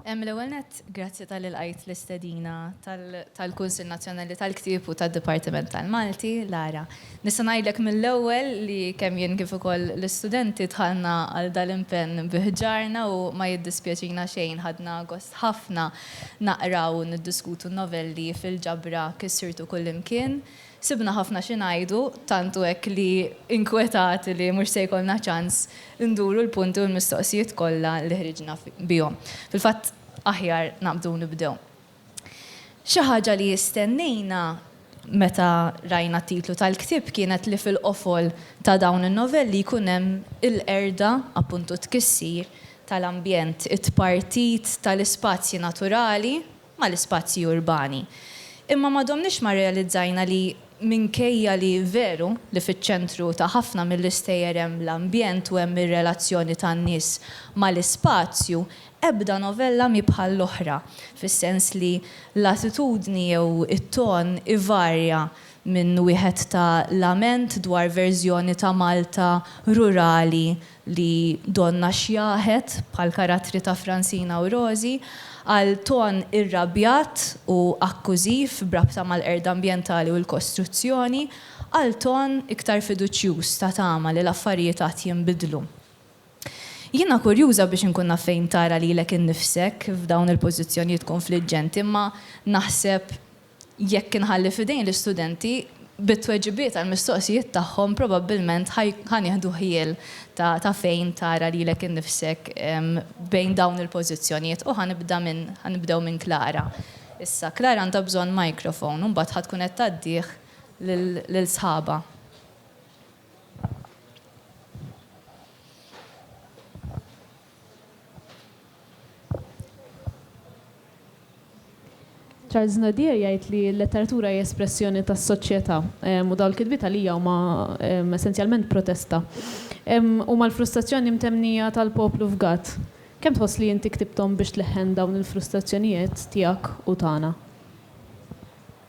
Em l-ewwel net, grazzi tal-ilqajt l-istedina tal-Kunsill Nazzjonali tal-Ktieb u tad-Dipartiment tal-Malti, Lara. Nista' ngħidlek mill-ewwel li kemm jien kif ukoll l-istudenti dħalna għal dal-impenn bi ħġarna u ma jiddispjaċina xejn ħadna gost ħafna naqraw u niddiskutu n-novelli fil-ġabra Kissirtu Kullimkien Sibna ħafna xi ngħidu, tant hu hekk li inkwetati li mhux se jkollna ċans induru l-punti u l-mistoqsijiet kollha li ħriġna bihom. Fil-fatt, aħjar naqbdu u nibdew. Xi ħaġa li stennejna meta rajna t-titlu tal-ktieb kienet li fil-qofol ta' dawn in-novelli jkun hemm il-qerda, appuntu t-tkissir, tal-ambjent, it-tpartit tal-ispazji naturali, mal-ispazji urbani. Imma ma domniex ma rrealizzajna li minkejja li veru li fiċ-ċentru ta' ħafna mill-istejjer hemm l-ambjent u hemm ir-relazzjoni tan-nies mal-ispazju, ebda novella mhi bħall-oħra, fis-sens li l-attitudni jew it-ton ivarja minn wieħed ta' lament dwar verżjoni ta' Malta rurali li donnha xjaħet bħall-karattri ta' Francina u Rosie, għal ton irrabjat u akkużiv b'rabta mal-qerda ambjentali u l-kostruzzjoni, għal ton iktar fiduċjuż ta' tama li l-affarijiet għad jinbidlu. Jiena kurjuża biex inkun naf fejn tara lilek innifsek f'dawn il-pożizzjonijiet kunfliġġenti imma naħseb, Jekk inħalli f'idejn l-istudenti, bit-tweġibiet għall-mistoqsijiet tagħhom probabbilment ħa nieħdu ħjiel ta' fejn tara lilek innifsek bejn dawn il-pożizzjonijiet u ħa nibda minn ħa nibdew minn Klara issa. Klara għandha bżonn microphone u mbagħad ħa tkun qed tgħaddih lil sħabha. Charles Nadir jgħid li l-letteratura hija espressjoni tas-soċjetà u dawn il-kitbiet għalija huma essenzjalment protesta. Huma l-frustrazzjoni mtemmnija tal-poplu f'Gatt. Kemm tħoss li inti ktibthom biex tleħħen dawn il-frustrazzjonijiet tiegħek u tagħna?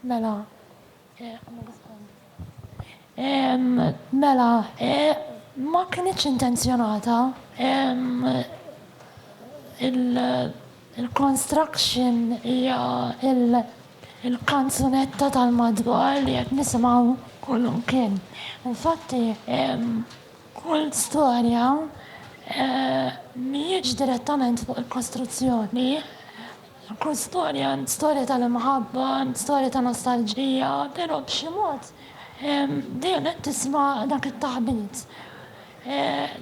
Mela, Mela, ma kinitx intenzjonata il-construction hija il-kanzunetta tal-madwar li qed nisimgħu kull imkien. Infatti, kull storja mhijiex direttament fuq il-kostruzzjoni Kull storja għand storja tal-imħabba, għand storja ta' nostalġija, però b'xi mod dejjem qed tisma' dak it-taħbit.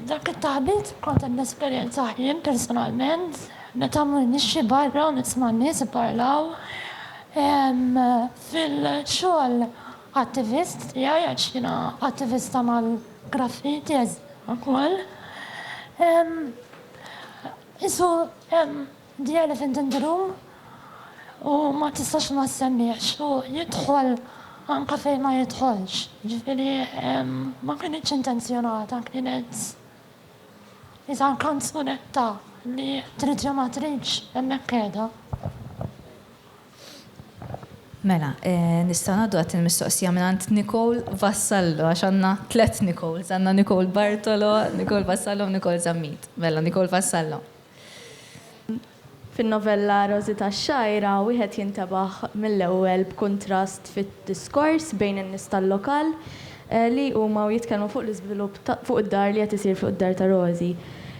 Dak it-taħbit kont qed nesperjenzah jien personalment meta mmur nixxi barra u nisma' n-nies ipparlaw fil-xogħol attivist tiegħi għax jiena attivista mal-graffiti ukoll. Qisu The Elephant in the Room u ma tistax ma ssemmihx u jidħol anke fejn ma jidħolx. Jiġifieri ma kinitx intenzjonata, kienet iżgħar kanzunetta li trid jew ma tridx hemmhekk qiegħda. Mela, nistgħu ngħaddu għat-tieni mistoqsija mingħand Nicole Vassallo għax għandna tliet Nicoles, għandna Nicole Bartolo, Nicole Vassallo u Nicole Zammit. Mela, Nicole Vassallo. Fin-novella Rożi tax-Xgħajra wieħed jintebaħ mill-ewwel b'kuntrast fid-diskors bejn in-nies tal-lokal li jqumu u jitkellmu fuq l-iżvilupp ta' fuq id-dar li qed isir fuq id-dar ta' Rożi.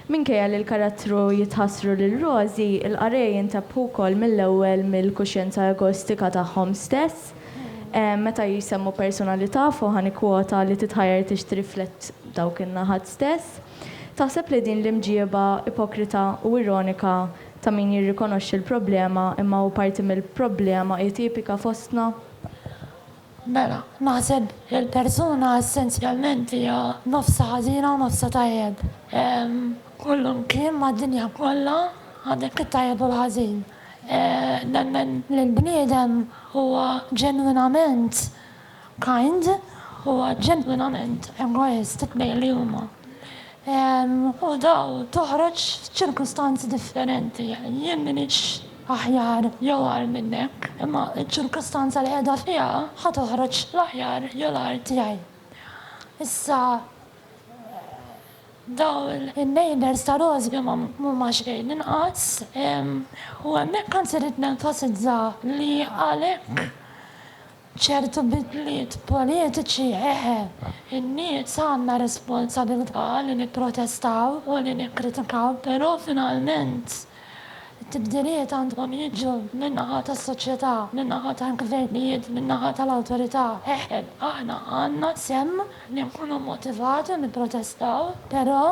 Minkejja li l-karattru jitħassru lil Rożi, il-qarrej jintebbħu wkoll mill-ewwel mill-kuxjenza egoistika tagħhom stess meta jsemmu personalità, fuqha nikkwota li titħajjar tixtri flett dawk in-naħat stess. Taħseb li din l-imġieba ipokrita u ironika ta' min jirrikonoxxi l-problema imma hu parti mill-problema hi tipika fostna? Mela, naħseb li l-persuna essenzjalment hija nofsha ħażina u nofsha tajjeb. Kollu mkien mad-dinja kollha għandek it-tajjeb u l-ħażin. Nemmen li l-bniedem huwa ġenwinament Kind huwa ġenwinament egoist bejn li huma u daw toħroġ f'ċirkustanzi differenti. Jien m'iniex aħjar jew agħar minnek, imma ċ-ċirkustanza li qiegħda fiha ħa toħroġ l-aħjar jew l-agħar tiegħi. Issa dawn in-neighbours ta' Rosby m'huma xejn inqas u hemmhekk anzi rrid nenfasizza li għalhekk Ċertu bidliet politiċi, eħe. In-nies għandna responsabilità li nipprotestaw u li nikkritikaw, però finalment it-tibdiliet għandhom jiġu min-naħa tas-soċjetà, min-naħa tal-gvernijiet, min-naħa tal-awtorità. Eħe, aħna għandna sehem li nkunu motivati u nipprotestaw, però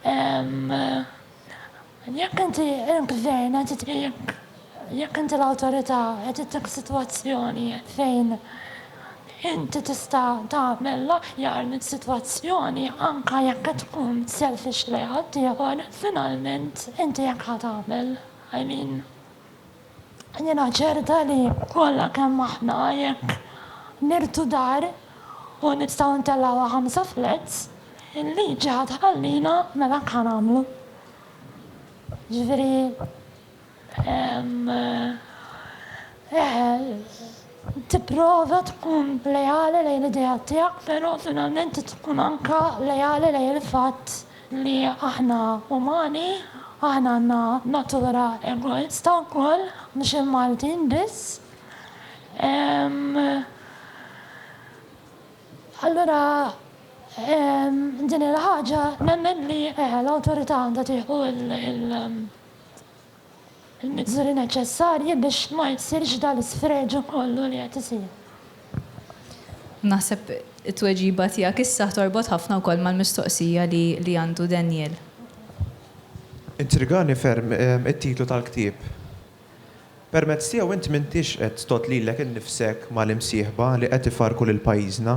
hemm Jekk inti l-gvern qed itqiegħek, jekk inti l-awtorità qed ittiek f'sitwazzjoni fejn inti tista' tagħmel l-aħjar mis-sitwazzjoni anke jekk qed tkun selfish lejn ħaddieħor, finalment inti hekk ħa tagħmel. I mean. Jiena ċerta li kollha kemm aħna jekk nirtu dar u nistgħu ntellgħuha ħamsa flats, il-liġi ħa tħallina mela hekk ħa nagħmlu. Jiġifieri eħe, tipprova tkun leali lejn l-ideat tiegħek, però finalment tkun anke leali lejn il-fatt li aħna umani, aħna għandna natura egoista wkoll, mhux il-Maltin biss. Allura din il-ħaġa nemmen li l-awtorità għandha tieħu il-miżuri neċessarji biex ma jsirx dal-isfreġu kollu li qed isir. Naħseb it-tweġiba tiegħek issa torbot ħafna wkoll mal-mistoqsija li għandu Daniel. Intrigani ferm it-titlu tal-ktieb. Permezz tiegħu int m'intix qed tgħodd lilek innifsek mal-imsieħba li qed ifarrku lil pajjiżna.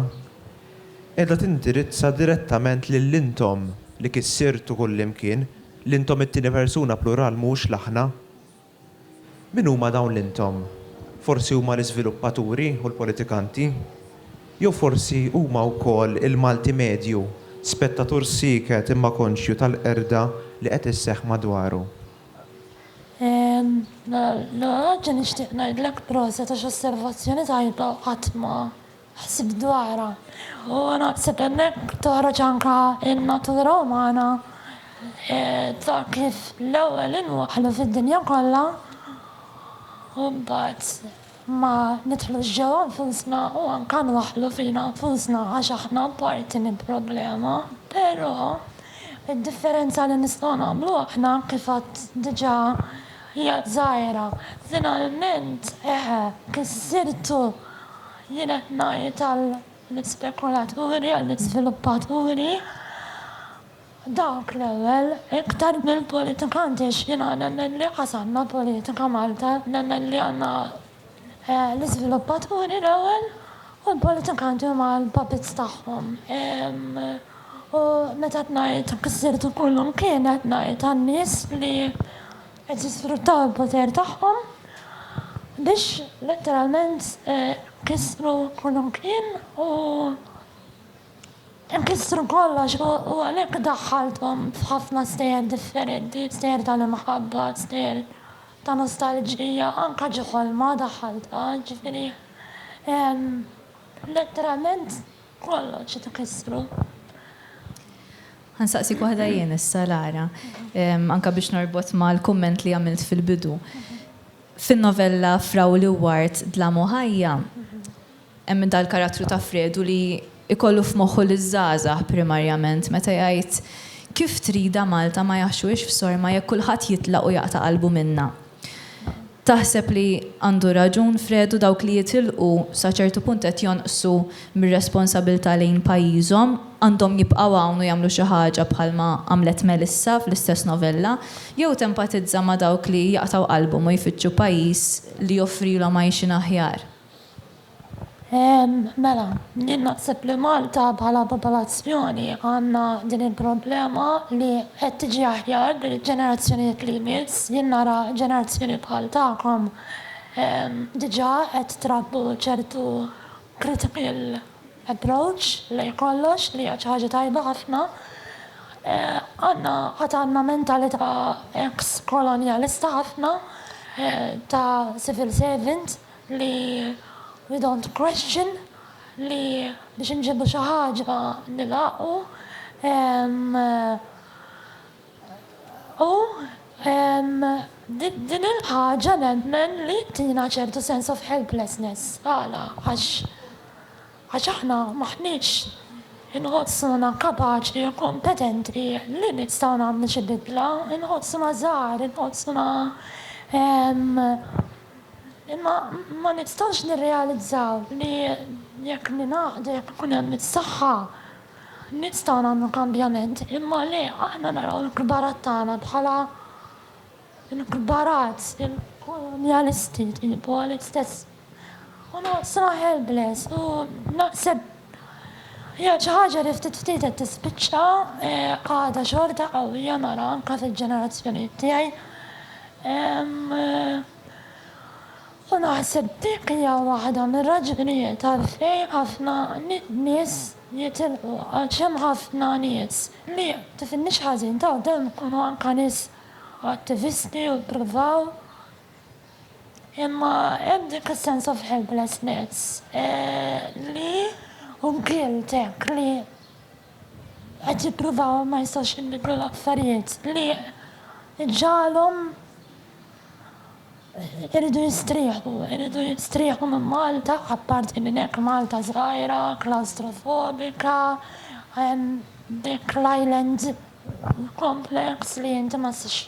Qiegħda tindirizza direttament lil intom li kissirtu kullimkien L-intom it-tieni persuna plural mhux l-aħna. Min huma dawn l-intom? Forsi huma l-iżviluppaturi u l-politikanti? Jew forsi huma wkoll il-Malti medju, spettatur sieket imma konxju tal-qerda li qed isseħħ madwaru? Ehm, Nadia nixtieq ngħidlek proset għax osservazzjoni tajba qatt ma Ħsibt dwarha u naħseb hemmhekk toħroġ anke n-natura umana ta' kif l-ewwel inwaħħlu fid-dinja kollha u mbagħad ma nidħlux ġewwa nfusna u anke nwaħħlu fina nfusna għax aħna parti minn problema. Però, id-differenza li nistgħu nagħmlu aħna, kif għadt diġà, Hija żgħira, finalment, eħe, kissirtu! Jien qed ngħid għall-ispekulaturi, għall-iżviluppaturi, dawk l-ewwel, iktar mill-politikanti, għax jiena nemmen li qas għandna politika Malta, nemmen li għandna l-iżviluppaturi l-ewwel u l-politikanti huma l-puppets tagħhom. U meta qed ngħid ksir ta' kull imkien qed ngħid għan-nies li qed jisfruttaw il-poter tagħhom biex letteralment kissru kull imkien u Ikissru kollox u għalhekk daħħalthom f'ħafna stejjer differenti, stejjer tal-imħabba, stejjer ta' nostalġija, anke xi ħolma daħħaltha, jiġifieri letteralment kollox qed ikissru. Ħa nsaqsik waħda jien issa Lara, anke biex norbot mal-kumment li għamilt fil-bidu. Fin-novella Frawl u Ward, Dlam u Ħajja, Hemm dal-karattru ta' Fredu li jkollu f'moħħu liż-żgħażagħ primarjament meta jgħid, Kif tridha Malta ma jaħxuhiex f'sorma jekk kulħadd jitlaq u jaqta' qalbu minnha. Taħseb li għandu raġun Fredu dawk li jitilqu sa ċertu punt qed jonqsu mir-responsabilità lejn pajjiżhom, għandhom jibqgħu hawn u jagħmlu xi ħaġa bħalma għamlet Melissa fl-istess novella, jew tempatizza ma' dawk li jaqtgħu qalbhom u jfittxu pajjiż li joffrilhom għajxien aħjar? Mela, jien naħseb li Malta bħala popolazzjoni għandna din il-problema li qed tiġi aħjar bil-ġenerazzjonijiet li jmiss. Jien nara ġenerazzjoni bħal tagħkom diġà qed trabbu ċertu critical approach lejn kollox li hija xi ħaġa tajba ħafna. Għandna, għad għandna mentalità eks-kolonjalista ħafna ta' civil servant. li we don't question, li biex inġibu xi ħaġa nilgħaqu u din il-ħaġa nemmen li ttina ċertu sense of helplessness. Għala? Għax aħna m'aħniex inħossuna kapaċi u kompetenti li nistgħu nagħmlu xi bidla, inħossuna żgħar, inħossuna Imma ma nistgħux nirrealizzaw li jekk ningħaqdu, jekk ikun hemm is-saħħa, nistgħu nagħmlu kambjament, imma li aħna naraw il-kbarat tagħna bħala l-kbarat, il-kolonjalisti, il-polit stess. U noqgħod sraħ helpless u naħseb. Hija xi ħaġa li ftit ftit qed tispiċċa, għadha xorta qawwija nara anke fil-ġenerazzjonijiet tiegħi. U naħseb dik hija waħda mir-raġunijiet għalfejn ħafna nies jitilqu għax hemm ħafna nies li, tifhimnix ħażin, ta' demm ikunu anke nies attivisti u jippruvaw, Imma hemm dik is-sense of helplessness li hu guilt hekk li qed jipprova u ma jistax jinbidlu l-affarijiet li jġagħalhom iridu jistrieħu, iridu jistrieħu minn Malta, apparti minn hekk Malta żgħira, klaustrofobika, hemm dik l-island complex li inti ma tistax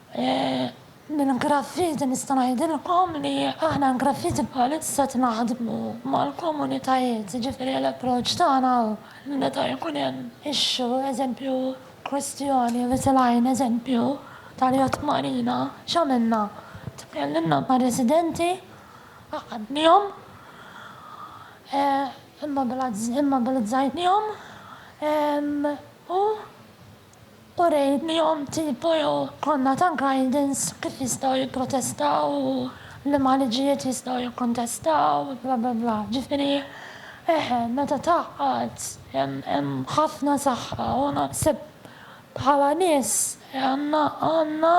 Minn Graffiti nista' ngħidilkom li aħna Graffiti bħalissa qed naħdmu mal-komunitajiet, jiġifieri l-approċċ tagħna hu li meta jkun hemm issue, eżempju kwistjoni li tilgħin, eżempju tal-yacht marina, x'għamilna? Tkellimna mar-residenti, għaqqadnihom, immobilizzajnihom u Urejnihom tipu jew konna ta' guidance kif jistgħu jipprotestaw u liema liġijiet jistgħu jikkontestaw bla bla bla. Ġifieri eħe meta tgħaqqad hemm ħafna saħħa u naħseb bħala nies għandna għandna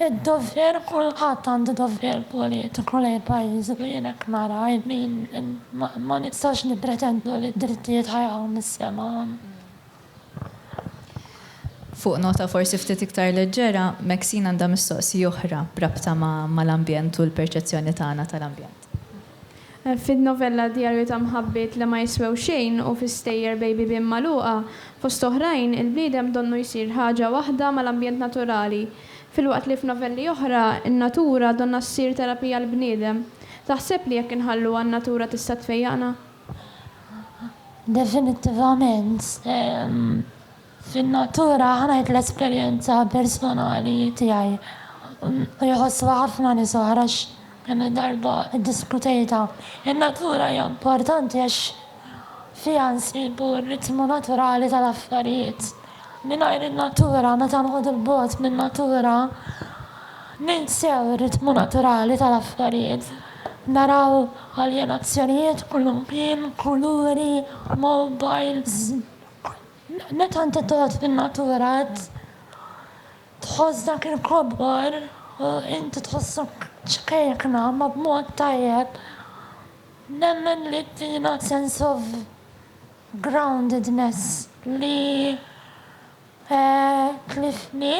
d-dovver kulħadd għandu dovver politiku lejn pajjiżu u jien hekk nara i mean ma nistgħux nippretendu li d-drittijiet ħajaqgħu mis-sema. Fuq nota forsi ftit iktar leġġera, Maxine għandha mistoqsija oħra b'rabta mal-ambjent u l-perċezzjoni tagħna tal-ambjent. Fin-novella Djarju ta' mħabbiet li ma jiswew xejn u fi Stejjer bejn bibien magħluqa, fost oħrajn, il-bniedem donnu jsir ħaġa waħda mal-ambjent naturali, filwaqt li f'novelli oħra, in-natura donnha ssir terapija għall-bniedem. Taħseb li jekk inħalluha n-natura tista' tfejjaqna? Definittivament, fin-natura ħa ngħid l-esperjenza personali tiegħi u jħossuha ħafna nies oħra għax kemm il-darba ddiskutejtha, in-natura hija importanti għax fiha nsibu r-ritmu naturali tal-affarijiet. Mingħajr in-natura, meta nqogħdu 'l bogħod min-natura, ninsew ir-ritmu naturali tal-affarijiet. Naraw aljenazzjonijiet kullimkien, kuluri, mowbajls. Meta inti tgħod fin-natura qed tħoss dak il-kobor u inti tħossok ċkejkna ma b'mod tajjeb. Nemmen li ttina sense of groundedness li Tlifni,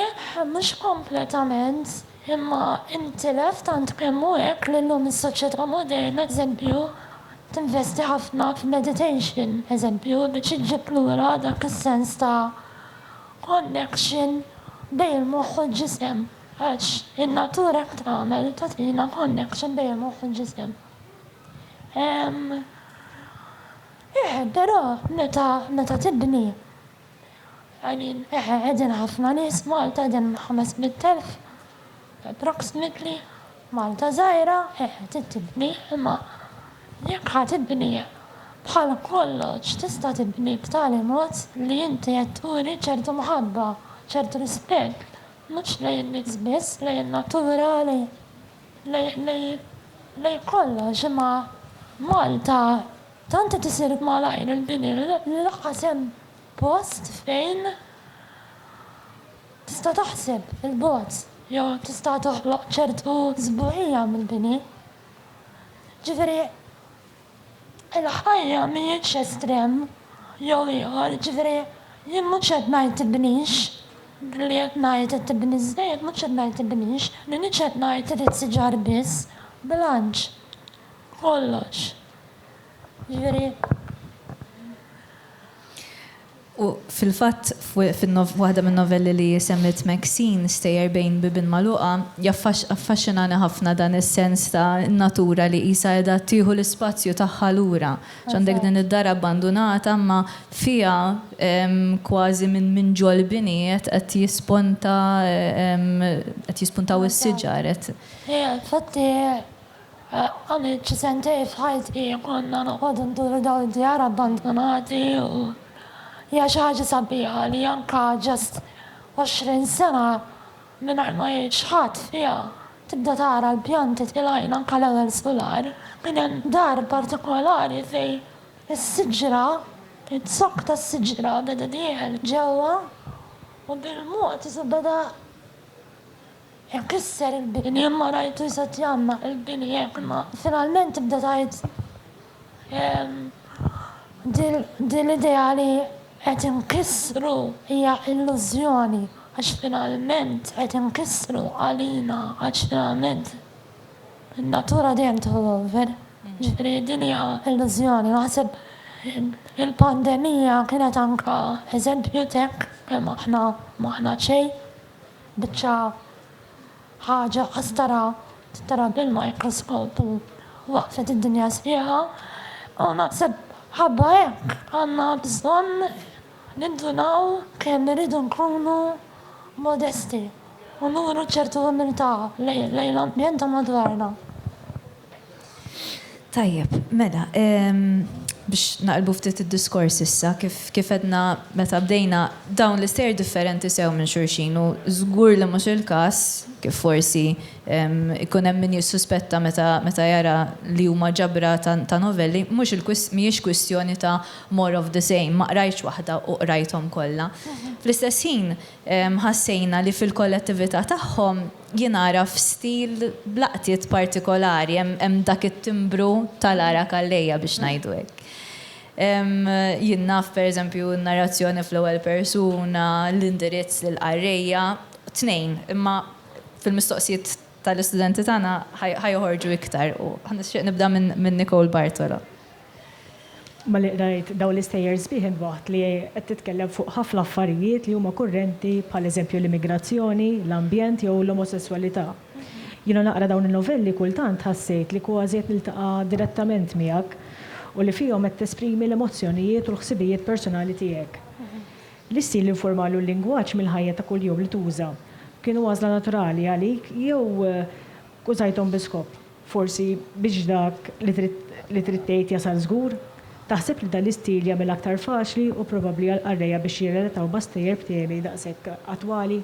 mhux kompletament, imma intilef tant kemm hu hekk li llum is-soċjetà moderna, eżempju, tinvesti ħafna f'meditation, eżempju, biex iġġib lura dak is-sens ta' connection bejn il-moħħ u l-ġisem, għax in-natura hekk tagħmel, tagħtina connection bejn il-moħħ u l-ġisem. Ehm, eh, però meta, meta tibni. Qegħdin, eħe, qegħdin ħafna nies f'Malta, qegħdin ħames mitt elf approximately. Malta żgħira, eħe, trid tibni, imma jekk ħa tibni, bħal kollox tista' tibni b'tali mod li inti qed turi ċertu mħabba, ċertu rispett, mhux lejn in-nies biss, lejn in-natura, lejn, lejn, lejn kollox, imma Malta. Tant qed isir malajr il-bini li lanqas hemm post fejn tista' taħseb 'il bogħod jew tista' toħloq ċertu sbuħija mill-bini. Ġifieri, il-ħajja mhijiex estrem jew ieħor, ġifieri jien mhux qed ngħid tibnix, billi qed ngħid qed tibni żejjed mhux qed ngħid tibnix, m'iniex qed ngħid irid siġar biss, bilanċ, kollox. Jiġifieri, U fil-fatt, f'waħda min-novelli li hi semmiet Maxine, Stejjer bejn bibien magħluqa, jaffaxxinani ħafna dan is-sens ta' natura li qisha qiegħda tieħu l-ispazju tagħha lura. X'għandek din id-dar abbandunata imma fiha kważi minn ġol-bini qed jisponta qed jispuntaw is-siġar, qed. Infatti, Għamilt xi sentejn f'ħajti li konna noqogħdu nduru dawn id-djar abbandunati u hija xi ħaġa sabiħa li anke just għoxrin sena mingħajr ma jgħix ħadd fiha tibda tara l-pjanti tilgħin anke l-ewwel sular. Kien hemm dar partikolari fejn is-siġra, iz-zokk tas-siġra beda dieħel ġewwa u bil-mod beda Jekk isser il-bini imma rajtu jset jgħammar il-bini jekk imma. Finalment tibda tgħid din l-idea li qed inkissru hija illużjoni għax finalment qed inkissru għalina għax finalment in-natura dejjem tieħu over. Ġifieri din hija illużjoni. Naħseb il-pandemija kienet anke eżempju t'hekk kemm aħna m'aħna xejn. biċċa ħaġa qasdara titara bil-mikroskopu waqfet id-dinja sbieħa u naħseb ħabba hekk għandna bżonn nindunaw kemm irridu nkunu modesti u nuru ċertu umiltà lejn l-ambjent ta' madwarna. Tajjeb, mela, biex naqilbu ftit id-diskors issa, kif għedna meta bdejna, dawn l-istejjer differenti sew minn xulxin u żgur li mhux il-każ, kif forsi jkun hemm min jissuspetta meta jara li huma ġabra ta' novelli, mhijiex kwistjoni ta' more of the same, ma qrajtx waħda u qrajthom kollha. Fl-istess ħin, Ħassejna li fil-kollettività tagħhom jingħaraf stil b'laqtiet partikolari, hemm dak it-timbru tal-għargħa kallejja biex ngħidu hekk. Jien naf pereżempju n-narrazzjoni fl-ewwel persuna, l-indirizz lill-qarrejja, tnejn, imma fil-mistoqsijiet tal-istudenti tagħna ħa joħorġu iktar u ħa nixtieq nibda minn Nicole Bartolo. Malli qrajt dawn l-istejjer sbieħ intbaħt li qed titkellem fuq ħafna affarijiet li huma kurrenti bħal eżempju l-immigrazzjoni, l-ambjent jew l-omosesswalità. Jiena naqra dawn in-novelli kultant ħassejt li kważi qed niltaqa' direttament miegħek u li fihom qed tesprimi l-emozzjonijiet u l-ħsibijiet personali tiegħek. L-istil informali u l-lingwaġġ mill-ħajja ta' kuljum li tuża kienu għażla naturali għalik jew użajthom bi skop? Forsi biex dak li trid tgħid jasal żgur? Taħseb li dan l-istil jagħmilha aktar faċli u probabbli għall-qarrejja biex jirrelataw ma' stejjer b'temi daqshekk attwali?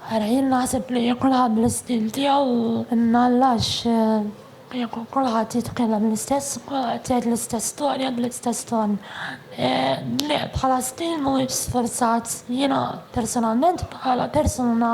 Ara, jien naħseb li kulħadd bl-istil tiegħu, imma għax kieku kulħadd jitkellem l-istess, kulħadd jgħid l-istess storja bl-istess ton. Le, bħala stil mhuwiex sfurzat. Jiena personalment bħala persuna,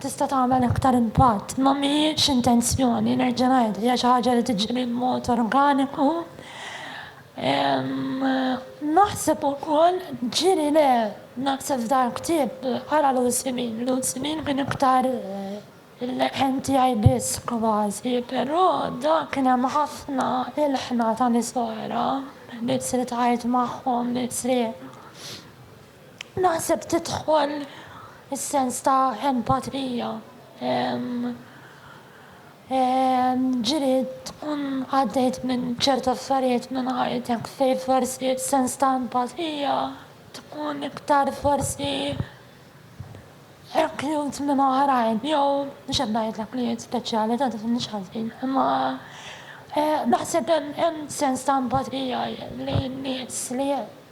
tista' tagħmel aktar impatt. Ma mhijiex intenzjoni, nerġa' ngħid, hija xi ħaġa li tiġri b'mod organiku. Naħseb ukoll ġieli le, naħseb f'dal-ktieb, ara Lucy Min, Lucy Min kien iktar il-leħen tiegħi biss kważi, però dak kien hemm ħafna ilħna ta' nies oħra li trid tgħid magħhom, li trid. Naħseb tidħol is-sens ta' empatrija. Ġieli tkun għaddejt minn ċerti affarijiet minn ħajtek fejn forsi s-sens ta' empatrija tkun iktar forsi reklut minn oħrajn jew mhux qed ngħidlek li hi speċjali ta' tifhimnix ħażin imma naħseb hemm sens ta' empatrija lejn nies li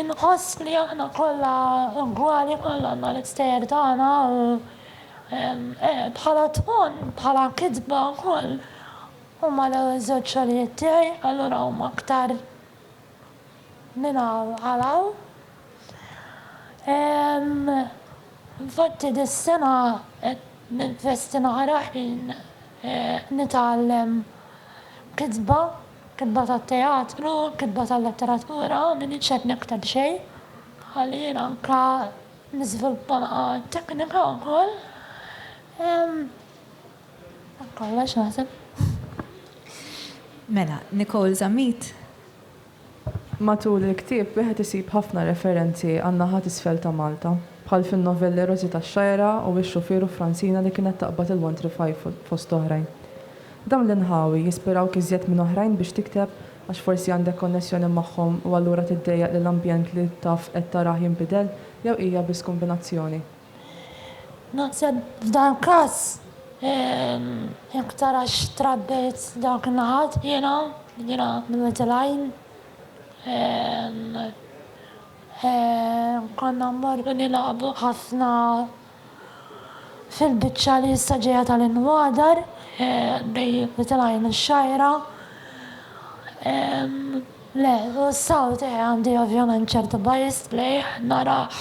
Inqoss li aħna kollha ugwali, kollha għandna l-istejjer tagħna u bħala tmun, bħala kitba wkoll huma l-ewwel żewġ xogħlijiet tiegħi, allura huma aktar minn hawn għal hawn. Infatti dis-sena qed ninvesti naqra ħin nitgħallem kitba. Kitba tat-teatru, kitba tal-letteratura, m'iniex qed nikteb xejn. Ħalli jien anke niżviluppa naqa' t-teknika wkoll. Dak kollox naħseb. Mela, Nicole Zammit? Matul il-ktieb wieħed isib ħafna referenzi għan-naħa t'isfel ta' Malta, bħal fin-novelli Rożi tax-Xagħjra u Ix-Xufier u Fransina li kienet taqbad il-Wantri Fajful, fost oħrajn. Dawn l-inħawi jispirawk iżjed minn oħrajn biex tikteb għax forsi għandek konnessjoni magħhom u allura tiddejjaq li l-ambjent li taf qed tarah jinbidel jew hija biss kombinazzjoni? Naħseb f'dan il-każ jekk tarax trabbejt dawk in-naħat jiena, jiena mill-Little Għajn, konna mmorru nilagħbu ħafna. fil-biċċa li issa ġejja tal-inwadar, bejn il-Little Eye u x-Xgħajra. Le, u s-sawt eh għandi ovvjament ċertu bias lejh, narah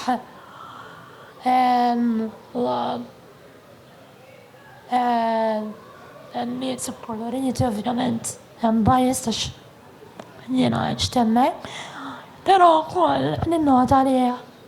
u n-nies ikkoloriti ovvjament hemm bias għax jiena għext hemmhekk. Però wkoll ninnota li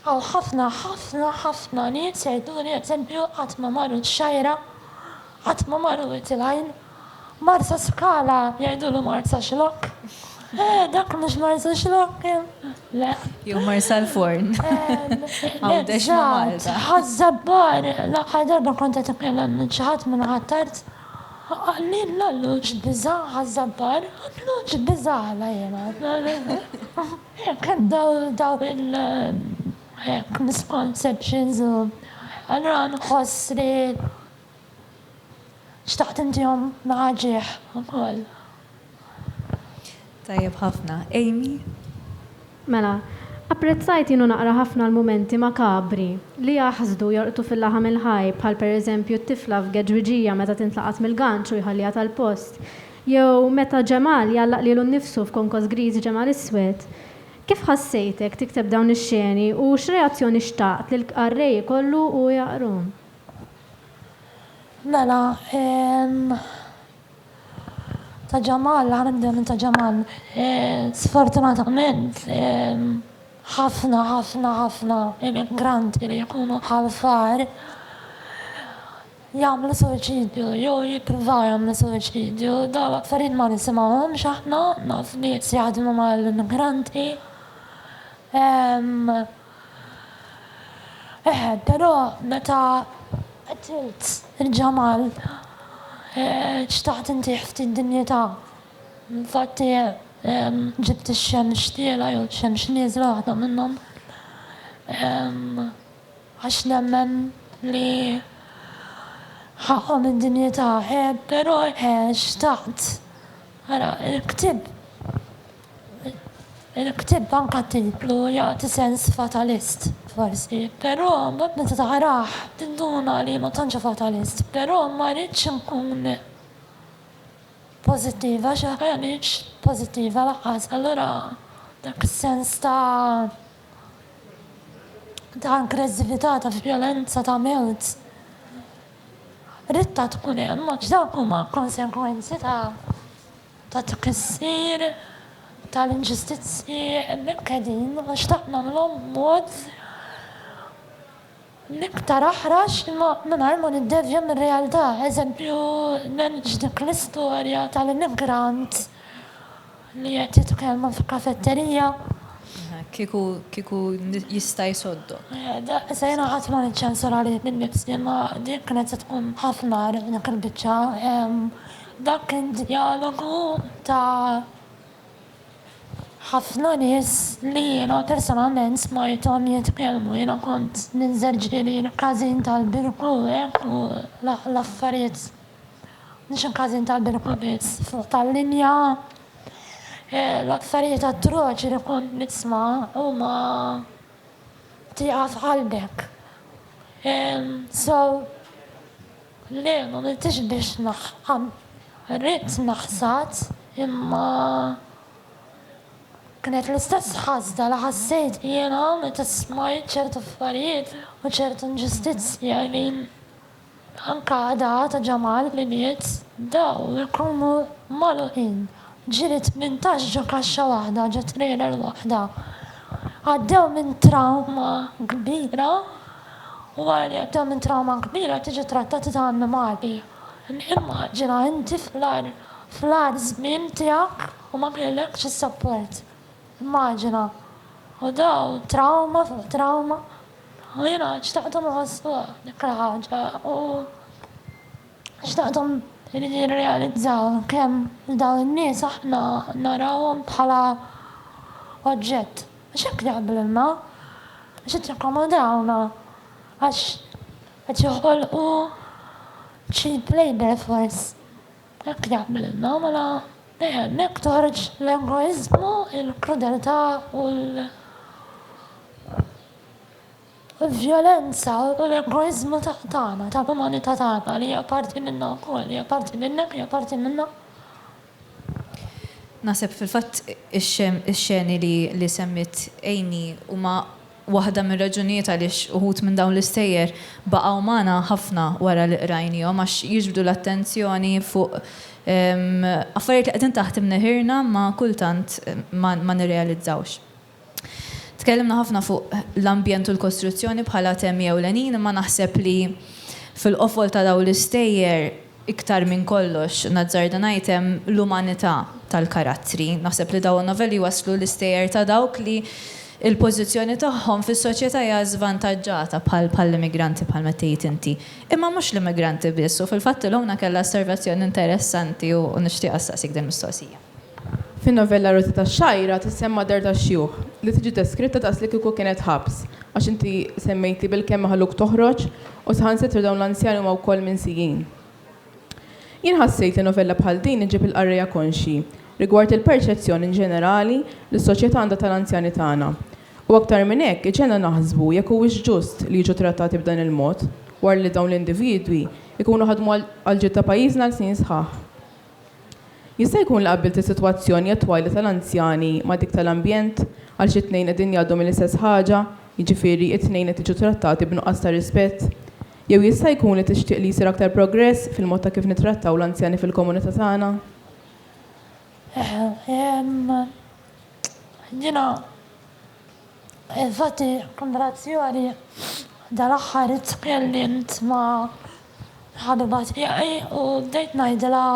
Hawn ħafna, ħafna, ħafna nies jgħiduli eżempju qatt ma marru ċ-Xgħajra, qatt ma marru Wied il-Għajn, Marsaskala jgħidulu Marsaxlokk, eh dak mhux Marsaxlokk, le. Jew Marsalforn. Għawdex ma' Malta. Eżatt, Ħaż-Żabbar, l-aħħar darba kont qed itkellem minn xi ħadd minn Ħ'Attard, qalli l-għalluġ biża' Ħaż-Żabbar, għalluġ biża' għala jiena. Jekk hemm dawn il-misconceptions u allura nħoss li xtaqt intihom naħa ġieħ ukoll. Tajjeb ħafna. Amy? Mela, apprezzajt jien u naqra ħafna l-mumenti makabri li jaħsdu, jorqdu fil-laħam il-ħaj, bħal pereżempju t-tifla f'geġwiġija meta tintlaqat mill-ganċ u jħalliha tal-post. Jew meta Ġemal jgħallaq lilu nnifsu f'konkos griż Ġemal iswed. Kif ħassejtek tikteb dawn ix-xeni u x'reazzjoni xtaqt li l-qarrej ikollu u jaqrhom? Mela, ta' Ġemal, ħa nibdew minn ta' Ġemal. Sfortunatament, ħafna, ħafna, ħafna imigranti li jkunu bħal far, jagħmlu suwiċidju jew jippruvaw jagħmlu suwiċidju. Dawn l-affarijiet ma nisimgħuhomx aħna, naf nies jaħdmu mal-immigranti. Eħe, però meta qtilt il-ġamal xtaqt intih ftit dinjità. Infatti ġibt ix-xemx tiela' jew ix-xemx nieżla waħda minnhom. Għax nemmen li ħaqqhom id-dinjità, eh, però eh, xtaqt, ara, il-ktieb, il-ktieb anka t-titlu jagħti sens fatalist, forsi, però mbagħad meta taqrah tinduna li ma tantx hu fatalist, però ma ridtx inkun pożittiva għax aħna m'iniex pożittiva lanqas, allura dak is-sens ta'. ta' ankreżività, ta' vjolenza, ta' mewt. Ridtha tkun hemm għax dawk huma konsegwenzi ta' ta' tkissir tal-inġustizzji imnikkdin għax dak nagħmluhom b'mod l-iktar aħrax imma mingħajr ma niddevja mir-realtà. Eżempju, nħeġġ dik l-istorja tal-immigrant li qed jitkellmu f'kafetterija. Kieku, kieku jista' jsoddok. Issa jiena qatt ma niċċensura lili nnifsi imma din kienet se tkun ħafna agħar dik il-biċċa. Dak kien djalogu ta'. Ħafna nies li jiena personalment smajthom jitkellmu, jiena kont ninżel ġrieħi l-każin tal-birku hekk u l-affarijiet, mhux il-każin tal-birku biss, fuq tal-linja, l-affarijiet atroċi li kont nisma' huma tieqa f'qalbek. So. Le, m'għamiltiex biex naħħam. Ridt naħsad, imma kienet l-istess ħasda li ħassejt jiena meta smajt ċertu affarijiet u ċertu inġustizzji għajnejn anke Ada ta' Ġamal li miet. Dawl ikunu magħluqin. Ġiri tmintax ġo kaxxa waħda, ġo trailer waħda. Għaddew minn trawma kbira u wara li għaddew minn trawma kbira qed jiġu trattati ta' annimali. Immaġina inti fl-agħar fl-agħar żmien tiegħek u ma kellekx is-sapport. Immaġina. U dawn trawma fuq trawma u jiena xtaqthom iħossuha dik il-ħaġa u xtaqthom jirrealizzaw kemm dawn in-nies aħna narawhom bħala oġġett. Għax hekk jagħmlulna, għax qed jakkomodawna, għax qed joħolqu cheap labour force. Hekk jagħmlulna, mela hemmhekk toħroġ l-egoiżmu, il-krudeltà u l-vjolenza u l-egoiżmu tagħna, tal-umanità tagħna li hija parti minna wkoll, hija parti minnek, hija parti minna. Naħseb fil-fatt ix-xeni li semmiet Amy huma waħda mir-raġunijiet għaliex uħud minn dawn l-istejjer baqgħu magħna ħafna wara li qrajniehom għax jiġbdu l-attenzjoni fuq affarijiet li qegħdin taħt imneħirna imma kultant ma nirrealizzawx. Tkellimna ħafna fuq l-ambjent u l-kostruzzjoni bħala temi ewlenin imma naħseb li fil-qofol ta' dawn l-istejjer iktar minn kollox, nazzarda ngħid, hemm l-umanità tal-karattri. Naħseb li dawn in-novelli jwasslu l-istejjer ta' dawk li l-pożizzjoni tagħhom fis-soċjetà hija żvantaġġata bħal bħall-immigranti bħalma qed tgħid inti. Imma mhux l-immigranti biss u fil-fatt Ilona kellha osservazzjoni interessanti u nixtieq issaqsik din il-mistoqsija. Fin-novella Rożi tax-Xgħajra tissemma dar tax-xjuħ, li tiġi deskritta daqs li kieku kienet ħabs, għax inti semmejt li bil-kemm maħluk toħroġ u saħansitra dawn l-anzjani huma wkoll minsijin. Jien ħassejt li novella bħal din iġġib il-qarrejja konxji rigward il-perċezzjoni inġenerali li s-soċjetà għandha tal-anzjani tagħna. U aktar minn hekk iġġegħelna naħsbu jekk huwiex ġust li jiġu trattati b'dan il-mod wara li dawn l-individwi jkunu ħadmu għall-ġid ta' pajjiżna għal snin sħaħ. Jista' jkun li qabbilt is-sitwazzjoni attwali tal-anzjani ma' dik tal-ambjent, għaliex it-tnejn qegħdin jgħaddu mill-istess ħaġa, jiġifieri, it-tnejn qed jiġu trattati b'nuqqas ta' rispett? Jew jista' jkun li tixtieq li jsir aktar progress fil-mod ta' kif nittrattaw l-anzjani fil-komunità tagħna? Jiena Infatti, kunverzazzjoni dal-aħħar li tkellimt ma' ħabiba tiegħi u bdejt ngħidilha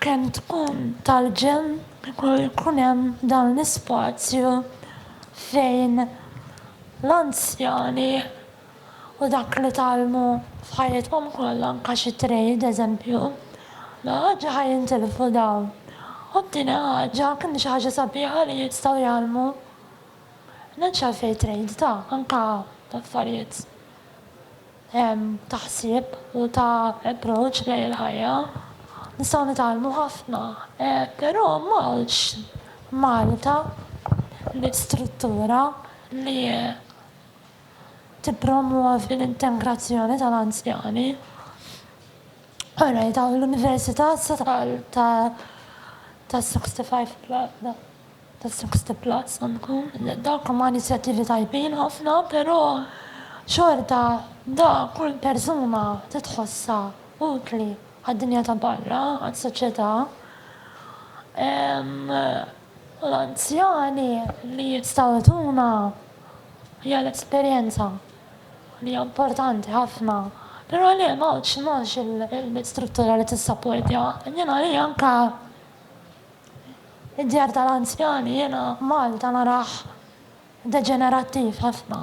kemm tkun tal-ġenn kieku jkun hemm dan l-ispazju fejn l-anzjani u dak li tgħallmu f'ħajjithom kollha anke xi trade eżempju ma għadx ħa jintilfu dawn u t-tieni ħaġa kien xi ħaġa sabiħa li jistgħu jgħallmu m'hemmx għalfejn trade ta' anke ta' affarijiet ta' ħsieb u ta' approach lejn il-ħajja nistgħu nitgħallmu ħafna però m'hawnx Malta l-istruttura li tippromwovi l-integrazzjoni tal-anzjani u rajta l-Università Statal ta' ta' 65 pla ta' 60 plus dawk huma inizjattivi tajbin ħafna però xorta da kull persuna titħossha utli għad-dinja ta' barra għas-soċjetà u l-anzjani li jistgħu jtuna Hija l-esperjenza li hija importanti ħafna, però le m'hawnx m'hawnx il-bit struttura li tissapportja. Jiena hi anke id-djar tal-anzjani jiena Malta narah deġenerattiv ħafna.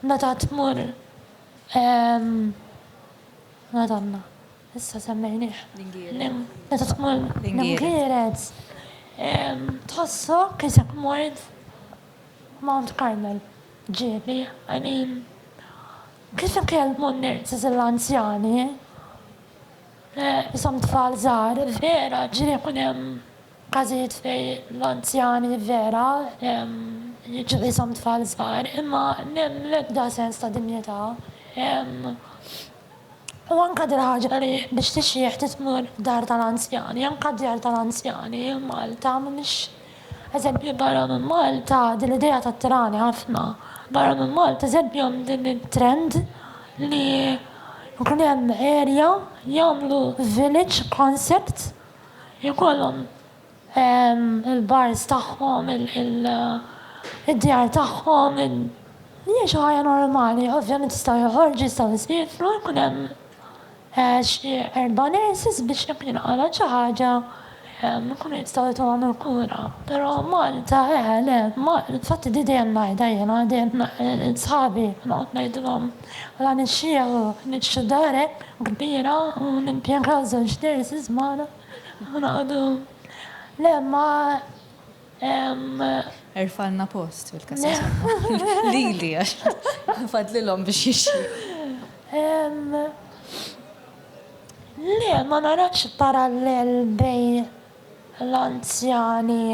Meta tmur Madanna. Issa semmejnieh. Meta tkun l-ingierez tħossok isek mort Mount Carmel. Ġieli, I mean, kif ikellmu n-nurses l-anzjani? Ishom tfal żgħar, vera, ġieli jkun hemm każijiet fejn l-anzjani vera jiġu qishom tfal żgħar, imma m'hemm l-ebda sens ta' dinjità. U anke dil-ħaġa li biex tixjieħ trid tmur f'dar tal-anzjani, anke d-djar tal-anzjani Malta mhumiex eżempju barra minn Malta din l-idea tattirani ħafna. Barra minn Malta eżempju hemm din it-trend li jkun hemm area jagħmlu village concept ikollhom il-bars tagħhom, id-djar tagħhom, jgħixu ħajja normali. Ovvjament jistgħu joħorġu, jistgħu jsiefru, jkun hemm xi erba' nurses biex jekk jinqalgħet xi ħaġa jkunu jistgħu jtuhom il-kura. Però Malta, eħe, le, infatti di dejjem ngħidha jiena, dejjem lil sħabi noqgħod ngħidilhom la nixxieħu, niġġu dar hekk kbira u nimpjegaw żewġ nurses magħna. Hu noqogħdu le ma hemm. Erfgħalna post fil-kassa somma. Lili għax fadlilhom biex jixtri. Hemm le ma narax parallel bejn l-anzjani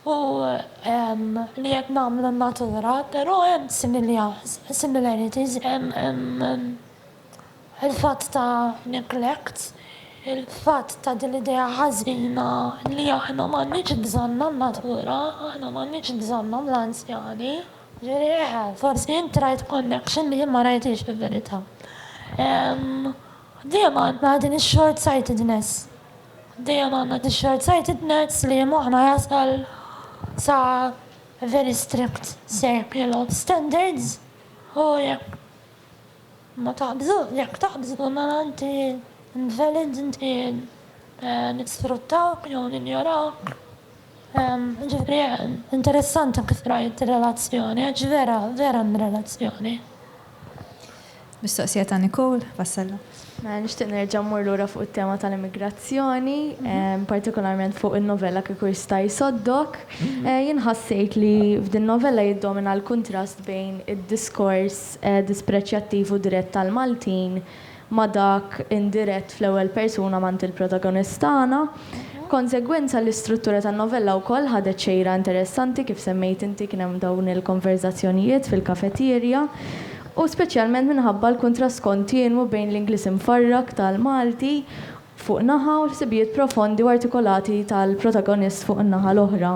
u li qed nagħmlu n-natura, però hemm similarities. Il-fatt ta' neglect, il-fatt ta' din l-idea ħażina li aħna m'għandniex bżonnha n-natura, aħna m'għandniex bżonnhom l-anzjani. Jiġifieri eħe, forsi int rajt connection li jien ma rajthiex fil-verità. Dejjem għandna din ix-shortsightedness. Dejjem għandna din ix-shortsightedness li moħħna jasal sa very strict circle of standards u jekk Ma taqbżux, jekk taqbżu mela inti invalid, inti nisfruttawk jew ninjorawk. Jiġifieri interessanti kif rajt ir-relazzjoni għax vera, vera hemm relazzjoni. Mistoqsija ta' Nicole Vassallo. Mela nixtieq nerġa' mmur lura fuq it-tema tal-immigrazzjoni, partikolarment fuq in-novella Kieku Jista' Jsoddok. Jien ħassejt li f'din-novella jiddomina l-kuntrast bejn id-diskors dispreċjattiv u dirett tal-Maltin ma' dak indirett fl-ewwel persuna mant il-protagonist tagħna. B'konsegwenza, l-istruttura tan-novella wkoll ħadet xejra interessanti, kif semmejt inti kien hemm dawn il-konverżazzjonijiet fil-kafetierja, u speċjalment minħabba l-kuntrast kontinwu bejn l-Ingliż imfarrak tal-Malti fuq naħa u l-ħsibijiet profondi u artikolati tal-protagonist fuq in-naħa l-oħra.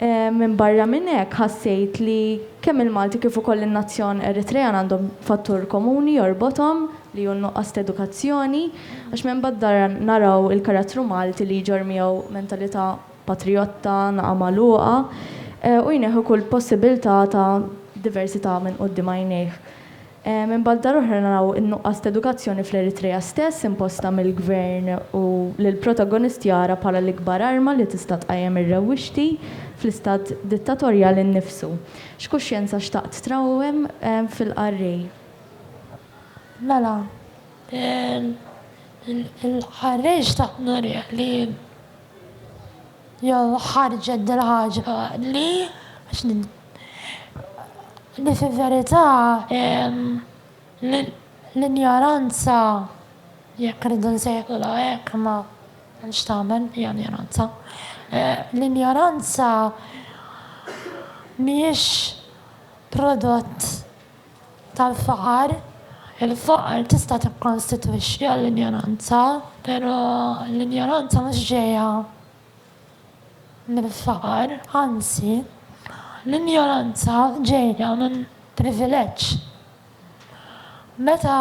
Minbarra minn hekk, ħassejt li kemm il-Malti kif ukoll in-nazzjon Eritrean għandhom fattur komuni jorbothom li hu n-nuqqas t'edukazzjoni, għax minbadda naraw il-karattru Malti li jġorr miegħu mentalità patrijotta, naqa' magħluqa, u jneħħi kull possibilità ta' diversità minn quddiem għajnejh. Minn banda l-oħra naraw in-nuqqas t'edukazzjoni fl-Eritrea stess imposta mill-gvern u lill-protagonist jara bħala l-ikbar arma li tista' tqajjem ir-rewwixti fl-istat dittatorjali nnifsu. X'kuxjenza xtaqt trawwem fil-qarrej? Mela, il-qarrej xtaqt nurih li. Jew ħarġet dil-ħaġa li, għax nid, li fil-verità l-injoranza, jekk irridu nsejħulha hekk, imma x'tagħmel, hija injoranza, l-injoranza mhijiex prodott tal-faqar, il-faqar tista' tikkonstitwixxi għall-injoranza, però l-injoranza mhux ġejja mill-faqar, anzi, l-injoranza ġejja minn privileġġ. Meta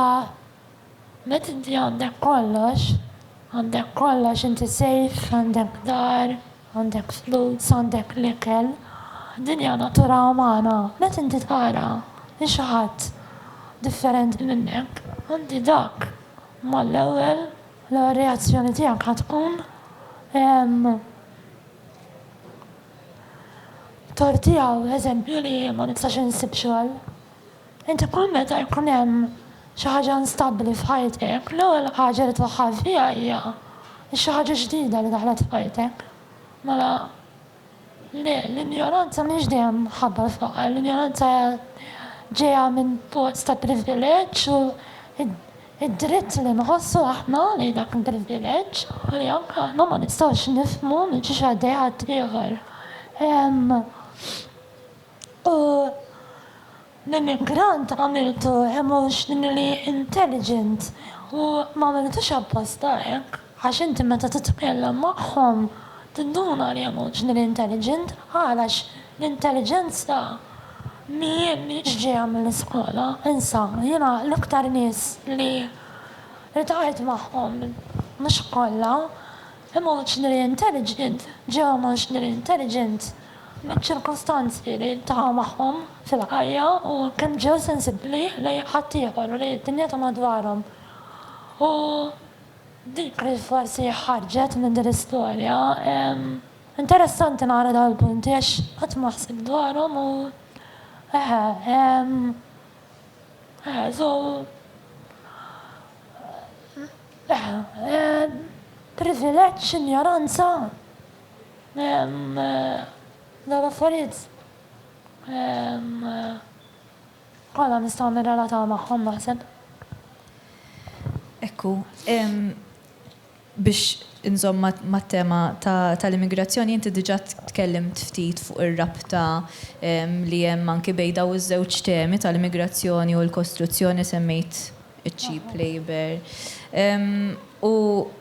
Meta inti għandek kollox, għandek kollox, inti safe, għandek dar, għandek flus, għandek l-ikel, din hija natura umana. Meta inti tara li xi ħadd differenti minnek, inti dak mal-ewwel, l-ewwel reazzjoni tiegħek ħa tkun ehm, tortiha eżempju li ma nistax insib xogħol. Inti kull meta jkun hemm xi ħaġa instabbli f'ħajtek, l-ewwel ħaġa li twaħħal fiha hija x-xi ħaġa ġdida li daħlet f'ħajtek. Mela, le, l-injoranza mhix dejjem minħabba l-faqar, l-injoranza hija ġejja minn pozz ta' privileġġ u d-dritt li nħossu aħna li dak il-privileġġ u li anke aħna ma nistgħux nifhmu minn xiex għaddej ħaddieħor. U l-immigrant għamiltu emotionally intelligent u m'għamiltux apposta hekk għax inti meta titkellem magħhom tinduna li emotionally intelligent għalax l-intelliġenza mhijiex ġejja mill-iskola. Insa, jiena l-iktar nies li ltqajt magħhom, mhux kollha, Emotionally intelligent, ġew emotionally intelligent miċ-ċirkustanzi li jiltaqgħu magħhom fil-ħajja u kemm ġew sensibbli lejn ħaddieħor u lejn id-dinja ta' madwarhom. U dik li forsi ħarġet minn din l-istorja, interessanti nara dawn il-punti għax qatt ma ħsibt dwarhom u eħe, ehm, eħe, so, Privileġġ, injoranza, dawn l-affarijiet kollha nistgħu nirrelataw magħhom naħseb. Ekku, biex inżomm mat-tema tal-immigrazzjoni inti diġà tkellimt ftit fuq ir-rabta li hemm anki bejn dawn iż-żewġ temi tal-immigrazzjoni u l-kostruzzjoni semmejt iċ-cheap labour. U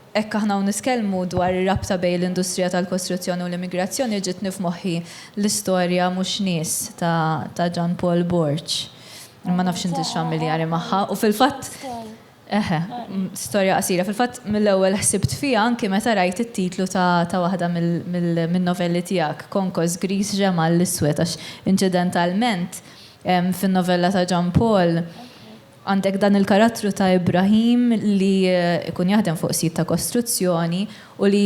hekk aħna hawn niskellmu dwar ir-rabta bejn l-industrija tal-kostruzzjoni u l-immigrazzjoni ġietni f'moħħi l-istorja Mhux Nies ta' Jean Paul Borg. Ma nafx intix familjari magħha. U fil-fatt, eħe, storja qasira. Fil-fatt mill-ewwel ħsibt fiha anki meta rajt it-titlu ta' waħda min-novelli tiegħek, Konkos Griż Ġemgħa l-Iswed għax inċidentalment fin-novella ta' Jean Paul, Għandek dan il-karattru ta' Ibrahim li jkun jaħdem fuq sit ta' kostruzzjoni u li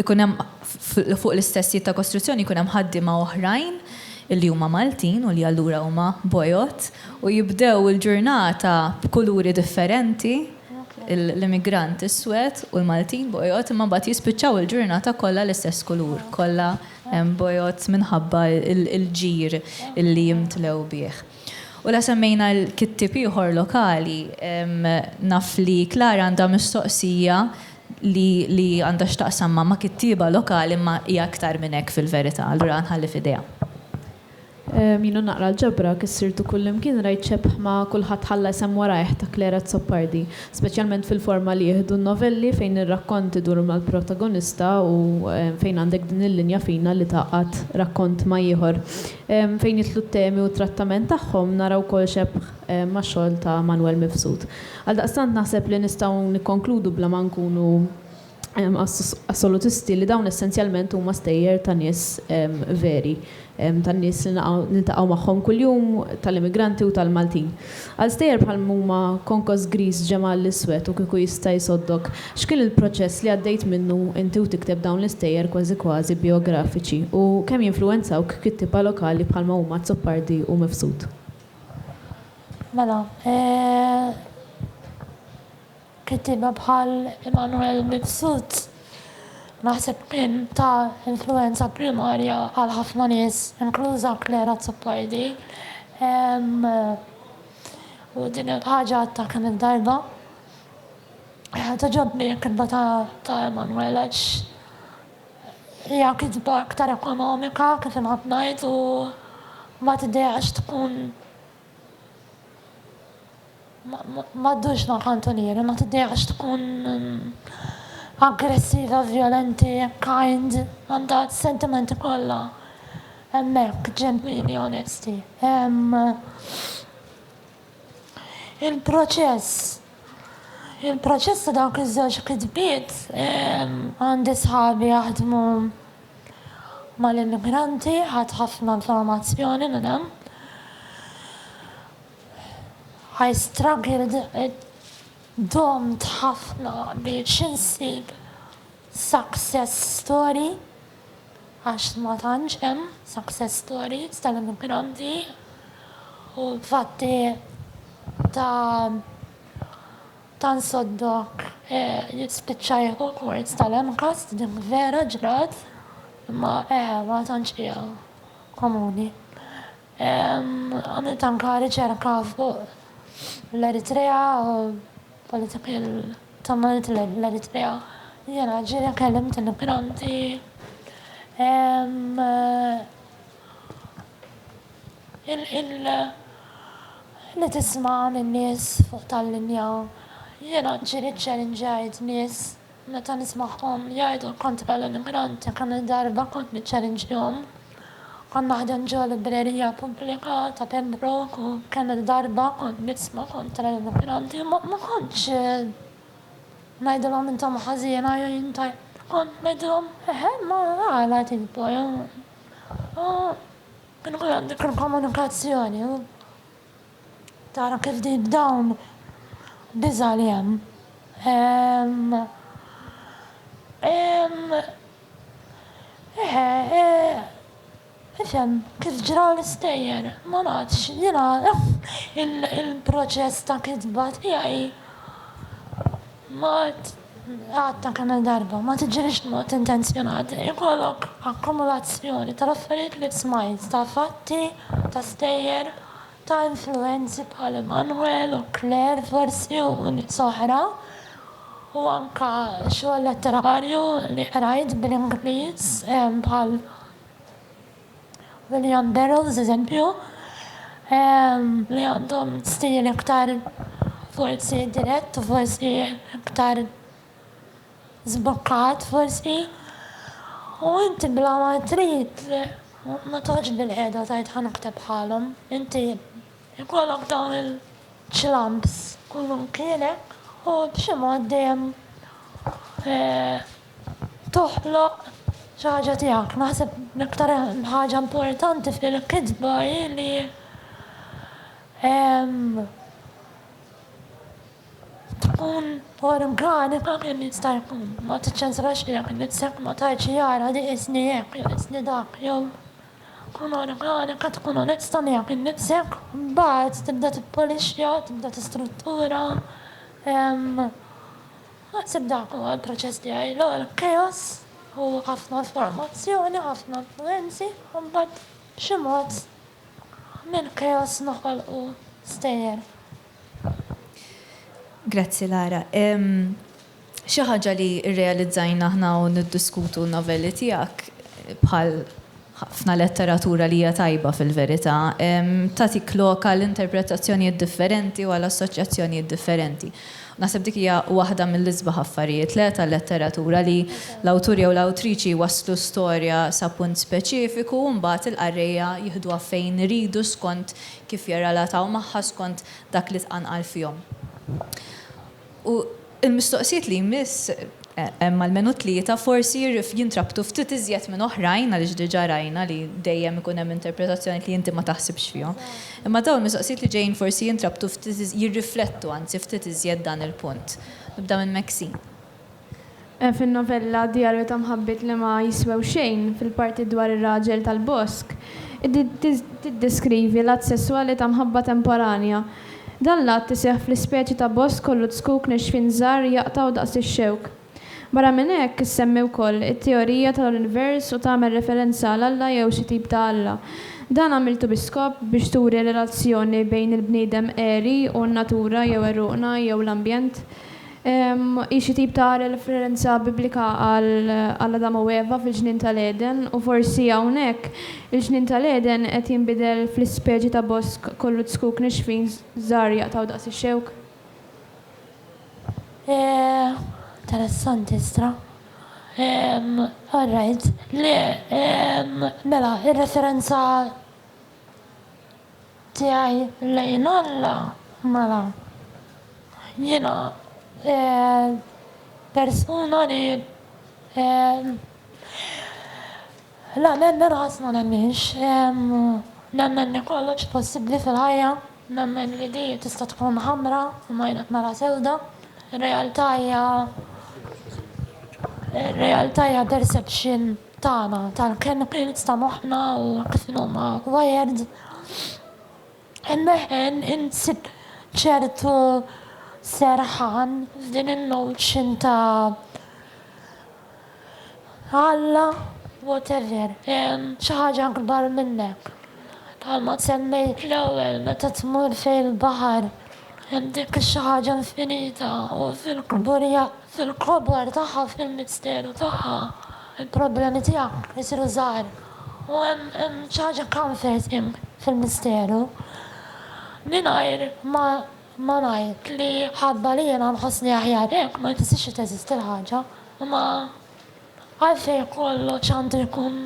jkun hemm fuq l-istess sit ta' kostruzzjoni jkun hemm ħaddiema oħrajn li huma Maltin u li allura huma bojod u jibdew il-ġurnata b'kuluri differenti, l-immigrant iswed u l-Maltin bojod imma mbagħad jispiċċaw il-ġurnata kollha l-istess kulur, kollha bojod minħabba l-ġir li jimtlew bih. U la semmejna l-kittieb ieħor lokali. Naf li Klara għandha mistoqsija li li għandha x'taqsam ma' ma' kittieba lokali imma hija aktar minn hekk fil-verità. Allura nħalli f'idejha. Jiena naqra l-ġabra, kif sirt u kullimkien rajt xebh ma' Kulħadd ħalla isem warajh ta' Clare Azzopardi, speċjalment fil-forma li jieħdu n-novelli fejn ir-rakkont idur mal-protagonista u fejn għandek din il-linja fina li tgħaqqad rakkont ma' ieħor. Fejn jidħlu t-temi u t-trattament tagħhom nara wkoll xebh max-xogħol ta' Manwel Mifsud. Għaldaqstant naħseb li nistgħu nikkonkludu bla ma nkunu assolutisti li dawn essenzjalment huma stejjer ta' nies veri, tan-nies li niltaqgħu magħhom kuljum, tal-immigranti u tal-Maltin. Għal stejjer bħal huma Konkos Griż, Ġemgħa l-Iswed u Kieku Jista' Jsoddok, x'kien il-proċess li għaddejt minnu inti u tikteb dawn l-istejjer kważi kważi bijografiċi u kemm jinfluwenzawk kittieba lokali bħalma huma Azzopardi u Mifsud? Mela, eh. Kittieba bħal Immanuel Mifsud naħseb kien ta' influwenza primarja għal ħafna nies, inkluża Claire Azzopardi, u din il-ħaġa għadtha kemm il-darba. Togħġobni l-kitba ta' Immanuel għax hija kitba aktar ekonomika kif inħobb ngħid u ma tidehx tkun Ma ddurx ma' kantunieri, ma tiddejaqx tkun aggressiva, vjolenti, kind, għandha s-sentimenti kollha hemmhekk, ġenwini, onesti. Il-proċess, il-proċess ta' dawk iż-żewġ kitbiet, għandi sħabi jaħdmu mal-immigranti ħadt ħafna informazzjoni minn hemm. I struggled, domt ħafna biex insib success story għax ma tantx hemm success stories tal-immigranti u fatti ta' Ta' nsoddok li spiċċa r-rekord tal-MCAST, din vera ġrat imma ma tantx hija komuni. Għamilt anke riċerka fuq l-Eritrea u political tumult lejn l-Eritrea. Jiena ġieli kellimt immigranti. Li tisma' lin-nies fuq tal-linja. Jiena ġieli ċċellinġajt nies meta nismagħhom jgħidu l-kont bella l-immigranti kemm il-darba kont niċċellinġjhom. Kont naħdem ġo librerija pubblika ta' Pembroke u kemm il-darba kont nisma' kontra l-immigranti. Ma kontx ngħidilhom intom ħażin, kont ngħidilhom eħe ma għala tikbu. Kien ukoll għandu jkun komunikazzjoni tara kif din dawn biża' li hemm. Ifhem kif ġraw l-istejjer, ma nafx, jiena il-proċess ta' kitba tiegħi. Mod, Għadtek kemm-il darba, ma tiġrix b'mod intenzjonat li jkollok akkumulazzjoni tal-affarijiet li smajt, ta' fatti, ta' stejjer, ta' influwenzi bħal Emmanuel u Claire forsi u nies oħra u anke xogħol letterarju li qrajt bl-Ingliż bħal William Burroughs eżempju, li għandhom stil iktar forsi dirett u forsi iktar żbukkat forsi. U inti bla ma trid ma toħodx bil-qiegħda tgħid ħa naħteb bħalhom. Inti jkollok dawn il-ċlamps kull imkienek u b'xi mod dejjem toħloq xi ħaġa tiegħek. Naħseb l-iktar ħaġa importanti fil-kitba hi li tkun organika kemm jista' jkun. Ma tiċċensurax lilek innifsek, ma tgħidx li ara di qisni hekk jew qisni dak jew kun organika, tkun onesta miegħek innifsek, mbagħad tibda tippolixja, tibda tistruttura. Naħseb dak huwa l-proċess tiegħi l-ogħla. Chaos u ħafna informazzjoni, ħafna influwenzi u mbagħad b'xi mod mill-chaos noħolqu stejjer. Grazzi Lara. Xi ħaġa li rrealizzajna aħna u niddiskutu n-novelli tiegħek bħal Ħafna letteratura li hija tajba fil-verità, tagħtik lok għal interpretazzjonijiet differenti u għal assoċjazzjonijiet differenti. U naħseb dik hija waħda mill-isbaħ affarijiet, le, tal-letteratura, li l-awtur jew l-awtriċi jwasslu storja sa punt speċifiku u mbagħad il-qarrejja jiħduha fejn iridu skont kif jirrelataw magħha, skont dak li tqanqal fihom. U. Il-mistoqsijiet li jmiss, hemm almenu tlieta, forsi jintrabtu ftit iżjed minn oħrajn għaliex diġà rajna li dejjem ikun hemm interpretazzjonijiet li inti ma taħsibx fihom. Imma dawn il-mistoqsijiet li ġejjin forsi jintrabtu ftit jirriflettu anzi ftit iżjed dan il-punt. Nibda minn Maxine. Fin-novella Djarju ta' mħabbiet li ma jiswew xejn, fil-parti dwar ir-raġel tal-bosk, tiddeskrivi l-att sesswali ta' mħabba temporanja, Dan l-att iseħħ fl-ispeċi ta' bosk kollu dskuk nixfin żgħar jaqtgħu daqs ix-xewk. Barra minn hekk, issemmi wkoll it-teorija tal-univers u tagħmel referenza għal Alla jew xi tip ta' Alla. Dan għamiltu bi skop biex turi relazzjoni bejn il-bniedem għeri u n-natura jew għeruqna jew l-ambjent. Hi xi tip ta' referenza Biblika għal Adam u Eva fil-Ġnien tal-Għeden, u forsi hawnhekk, il-Ġnien tal-Għeden qed jinbidel fl-ispeċi ta' bosk kollu zkuk nixfin żgħar jaqtgħu daqs ix-xewk. Interessanti stra. Alright. Mela, ir-referenza. tiegħi lejn Alla, mela, jiena persuna li la nemmen qatt ma nemminx. Nemmen li kollox possibbli fil-ħajja, nemmen li di tista' tkun ħamra imma jien qed nara sewda. Ir-realtà hija ir-realtà hija perception. tagħna tal-kelma permezz ta' moħħna u kif inhuma wired, immeħħen insib ċertu serħan f'din in-notion ta' Alla, whatever, xi ħaġa akbar minnek. Bħalma semmejt fl-ewwel meta tmur fejn il-baħar hemm dik ix-xi ħaġa infinita u fil-kburja Fil-kobor tagħha, fil-misteru tagħha, il-problemi tiegħek isiru żgħar. U hemm hemm xi ħaġa comforting fil-misteru. Mingħajr ma ma ngħid li ħabba li jiena nħossni aħjar hekk ma jfissirx li teżisti l-ħaġa. Imma għalfejn kollox għandu jkun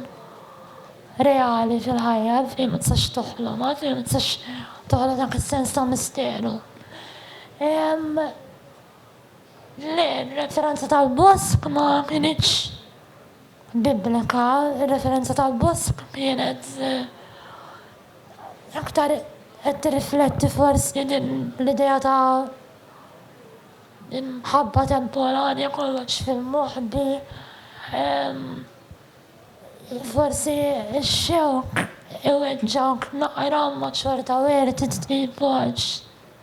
reali fil-ħajja, għalfejn ma tistax toħlom, għalfejn ma tistax toħloq dak is-sens ta' misteru. Ehm. Le, ir-referenza tal-bosk ma kinitx Biblika, ir-referenza tal-bosk kienet aktar qed tirrifletti forsi din l-idea ta' imħabba temporanja kollox fil-moħbi, forsi x-xewk iweġġgħek naqra imma xorta wert trid tqim b'għotx.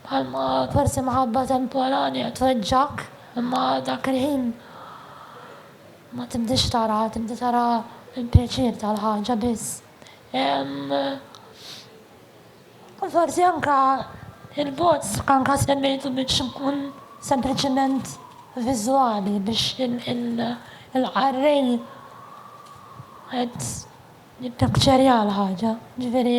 Bħalma forsi mħabba temporanja tweġġgħek, imma dak il-ħin ma tibdiex taraha, tibda tara l-pjaċir tal-ħaġa biss. U forsi anke l-bogħod anke semmejtu biex ikun sempliċement viżwali biex il-qarrej qed jippikċerja l-ħaġa, jiġifieri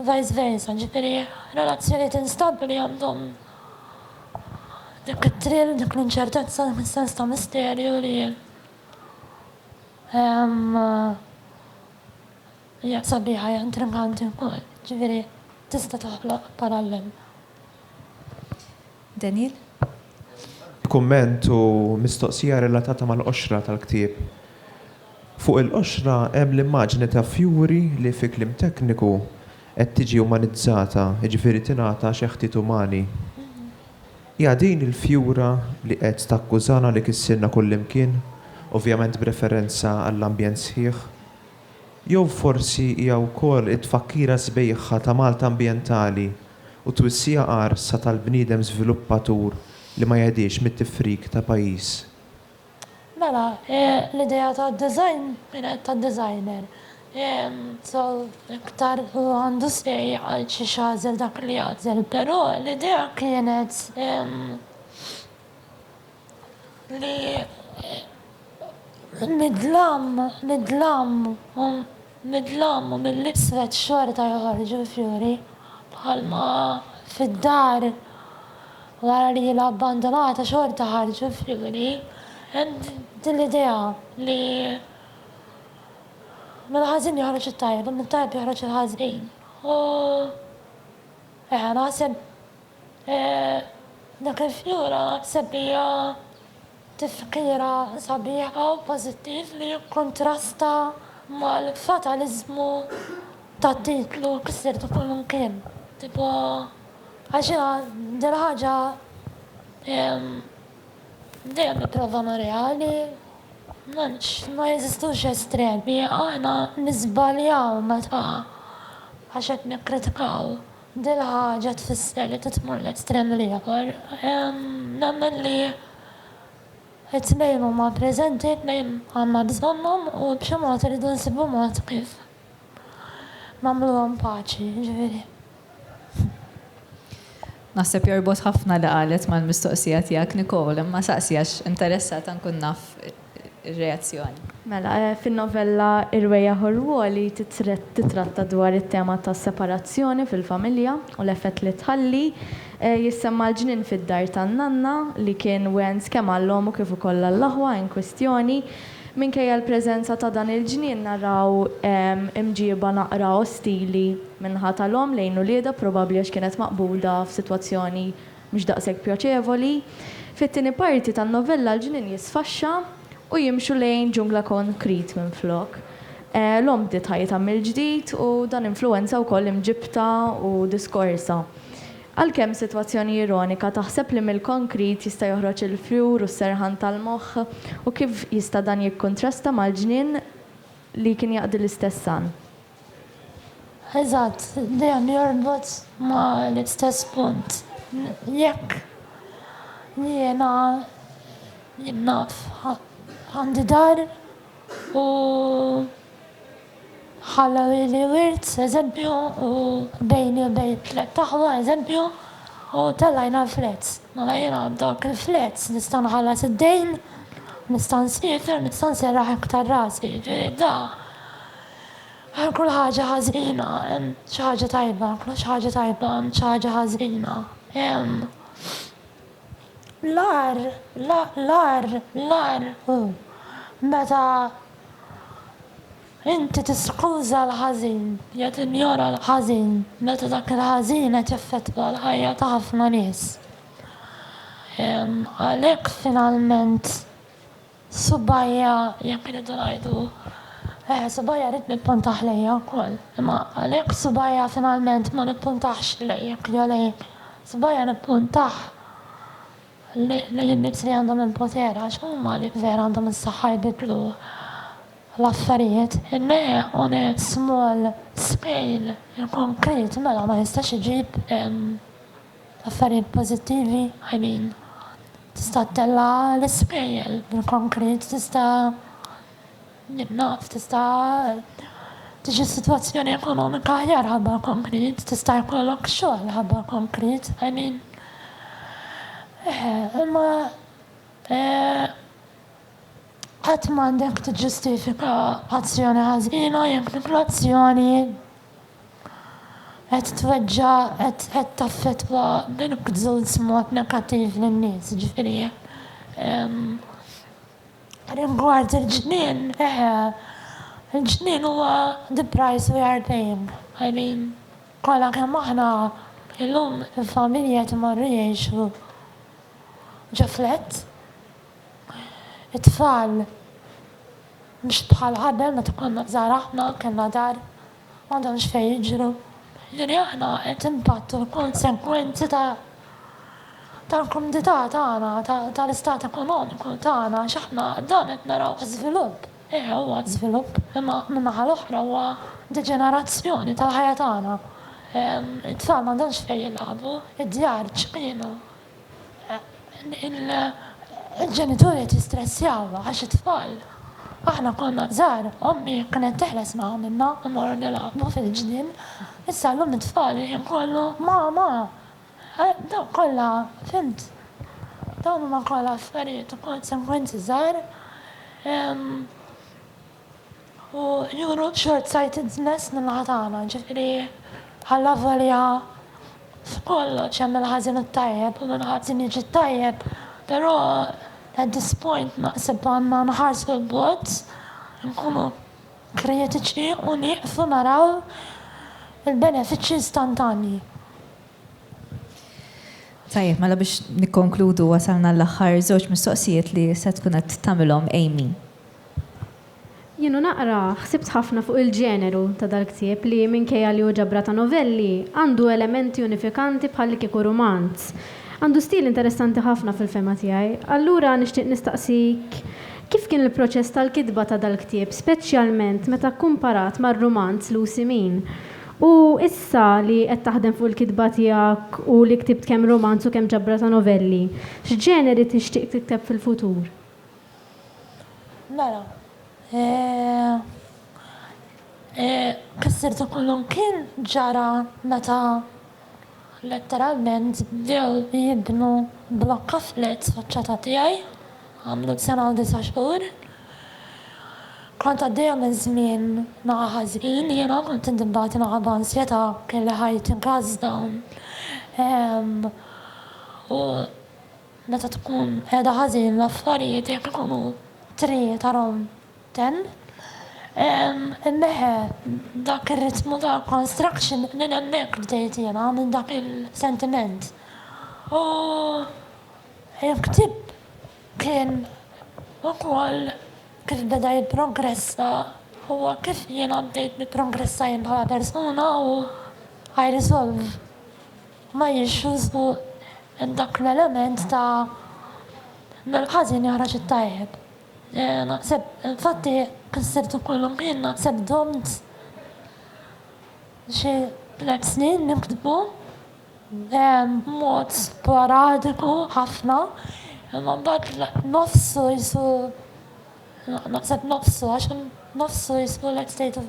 u vice versa, ġifieri relazzjonijiet instabbli għandhom dik it-thrill, dik l-inċertezza, dak is-sens ta' misterju li hija sabiħa, hija intriganti wkoll, ġifieri tista' toħloq parallel. Daniel. B'kumment u mistoqsija relatata mal-qoxra tal-ktieb. Fuq il-qoxra hemm l-immaġni ta' fjuri li fi kliem tekniku qed tiġi umanizzata, jiġifieri tingħata xeħtiet umani. Hija din il-fjura li qed takkużana li kissirna kullimkien, ovvjament b'referenza għall-ambjent sħiħ Jew forsi hija wkoll it-tfakkira sbejħa ta' Malta ambjentali u twissija qarsa tal-bniedem żviluppatur li ma jegħdiex mit-tifrik ta' pajjiż? Mela, l-idea tad-design kienet tad-designer. So, iktar hu għandu say għal xiex jagħżel dak li jagħżel, però l-idea kienet li mid-dlam, mid-dlam u mid-dlam u mill-iswed xorta joħorġu l-fjuri, bħalma fid-dar wara li ilha abbandonata xorta ħarġu l-fjuri, hemm din l-idea li mill-ħażin joħroġ it-tajjeb u mit-tajjeb joħroġ il-ħażin. U eħe, naħseb Dak il-fjura sebbieħa tifkira sabiħa u pożittiv li jikkuntrasta mal-fataliżmu tat-titlu Ksirtu Kull Imkien. Tipo, għal xina din il-ħaġa dejjem nipprova ma' reali, m'hemmx, ma jeżistux estremi, aħna niżbaljaw meta għax qed nikkritikaw. Dil-ħaġa tfisser li titmur l-estrem l-ieħor. Nemmen li t-tnejn huma preżenti, t-tnejn għandna bżonnhom u b'xi mod irridu nsibu mod kif nagħmluhom paċi, jiġifieri. Naħseb jorbot ħafna li qalet mal-mistoqsija tiegħek Nicole, imma saqsi għax interessata nkun naf ir-reazzjoni. Mela, fin-novella Irwejjaħ u Rwoli titratta dwar it-tema tas-separazzjoni fil-familja u l-effett li tħalli. Jissemma l-ġnien fid-dar tan-nanna li kien wens kemm għall-omm u kif ukoll għall-aħwa inkwistjoni. Minkejja l-preżenza ta' dan il-ġnien naraw imġieba naqra ostili min-naħa tal-omm lejn uliedha, probabbli għax kienet maqbuda f'sitwazzjoni mhux daqshekk pjaċevoli. Fit-tieni parti tan-novella l-ġnien jisfaxxa u jimxu lejn ġungla konkrit minflok. L-omm bdiet ħajjitha mill-ġdid u dan influwenza wkoll imġibtha u diskorsha. Għalkemm sitwazzjoni ironika, taħseb li mill-konkrit jista' joħroġ il-fjur u s-serħan tal-moħħ u kif jista' dan jikkuntrasta mal-ġnien li kien jaqdi l-istess għan. Eżatt, dan jorbot ma' l-istess punt. Jekk jiena jien naf għandi dar u ħalla lili wirt, eżempju, u bejni u bejn tliet aħwa, eżempju, u tellajna l-flat. Mela jiena dak il-flat nista' nħallas id-dejn, nista' nsiefer, nista' nserraħ iktar rasi. Jiġifieri da. Għal kull ħaġa ħażina hemm xi ħaġa tajba, għal kull ħaġa tajba hemm xi ħaġa ħażina. Hemm l-ar, l-ar, l-ar hu meta inti tiskuża l-ħażin, jew tinjora l-ħażin, meta dak il-ħażin qed jaffettwa l-ħajja ta' ħafna nies. Għalhekk finalment Subajja, jekk irridu ngħidu, eh, subajja rrid nippuntah lejja wkoll. Imma għalhekk subajja finalment ma nippuntahx lejjek jew lejk. Subajja nippuntah lejn in-nies li għandhom il-poter għax huma li vera għandhom is-saħħa jbiddlu l-affarijiet. In-ne on a small scale, il-konkret, mela ma jistax iġib, ehm. Affarijiet pożittivi għajnin. Tista' ttella' l-ispejjel bil-konkrit, tista' jien naf, tista' tiġi sitwazzjoni ekonomika aħjar ħabba l-konkrit, tista' jkollok xogħol ħabba l-konkrit, I mean. Eħe, imma qatt m'għandek tiġġustifika azzjoni ħażina jekk dik l-azzjoni qed tweġġa' qed qed taffettwa bil-kzuz b'mod negattiv lin-nies. Jiġifieri rigward il-ġnien, eħe, il-ġnien huwa the price we are paying. I mean, kollha kemm aħna illum il-familji qed imorru jgħixu ġo flats. It-tfal mhux bħal qabel meta konna żgħar aħna kellna dar u għandhom x'fejn jiġru. Jiġifieri aħna qed inpattu l-konsegwenzi ta' tal-kumdità tagħna, tal-istat ekonomiku tagħna għax aħna dan qed narawh żvilupp. Eh, huwa żvilupp, imma min-naħa l-oħra huwa deġenerazzjoni tal-ħajja tagħna. It-tfal m'għandhomx fejn jilagħbu, id-djar ċkejkna. il-ġenituri qed jistressjaw għax it-tfal. Aħna konna żgħar ommi kienet teħles ma' għamilna immorru nilgħabu fil-ġnien, issa llum it-tfal il-ħin kollu mama! Dawn kollha fhimt dawn huma kollha affarijiet u konsegwenzi żgħar. U juru shortsighted-ness min-naħa tagħna, ġifieri allavolja f'kollox hemm il-ħażin u t-tajjeb u mill-ħażin jiġi t-tajjeb, però at this point naħseb għandna nħarsu 'l bogħod, inkunu kritiċi u nieqfu naraw il-benefiċċji istantanji. Tajjeb, mela biex nikkonkludu wasalna l-aħħar żewġ mistoqsijiet li se tkun qed tagħmilhom Amy. Jien u naqra, ħsibt ħafna fuq il-ġeneru ta' dal-ktieb li, minkejja li hu ġabra ta' novelli, għandu elementi unifikanti bħallikieku rumanz. Għandu stil interessanti ħafna fil-fehma tiegħi. Allura nixtieq nistaqsik kif kien il-proċess tal-kitba ta' dal-ktieb, speċjalment meta kkumparat mar-rumanz Lucy Min? U issa li qed taħdem fuq il-kitba tiegħek u li ktibt kemm rumanz u kemm ġabra ta' novelli, x'ġeneri tixtieq tikteb fil-futur? Mela, eh, eh, kisser ta' kullimkien ġara meta letteralment bdew jibnu blokka flats faċċata tiegħi, għamlu sena u disa' xhur. Kont għaddejja minn żmien naqa' ħażin, jiena kont indibbati minħabba ansjetà, kelli ħajti mkażżda, ehm, u Meta tkun qiegħda ħażin l-affarijiet jekk ikunu three ta' round ten inneħħa dak ir-ritmu ta' construction minn hemmhekk bdejt jiena minn dak il-sentiment u l-ktieb kien ukoll kif beda jipprogressa huwa kif jiena bdejt nipprogressa jien bħala persuna u I resolve ma jixrux fuq dak l-element ta' mill-ħażin jaħraġ it-tajjeb. Naħseb, infatti, kif sirtu kullum ħin, naħseb domt xi tliet snin niktbu b'mod sporadiku ħafna, imma mbagħad nofsu qisu, naħseb nofsu, għax nofsu qisu l-estate of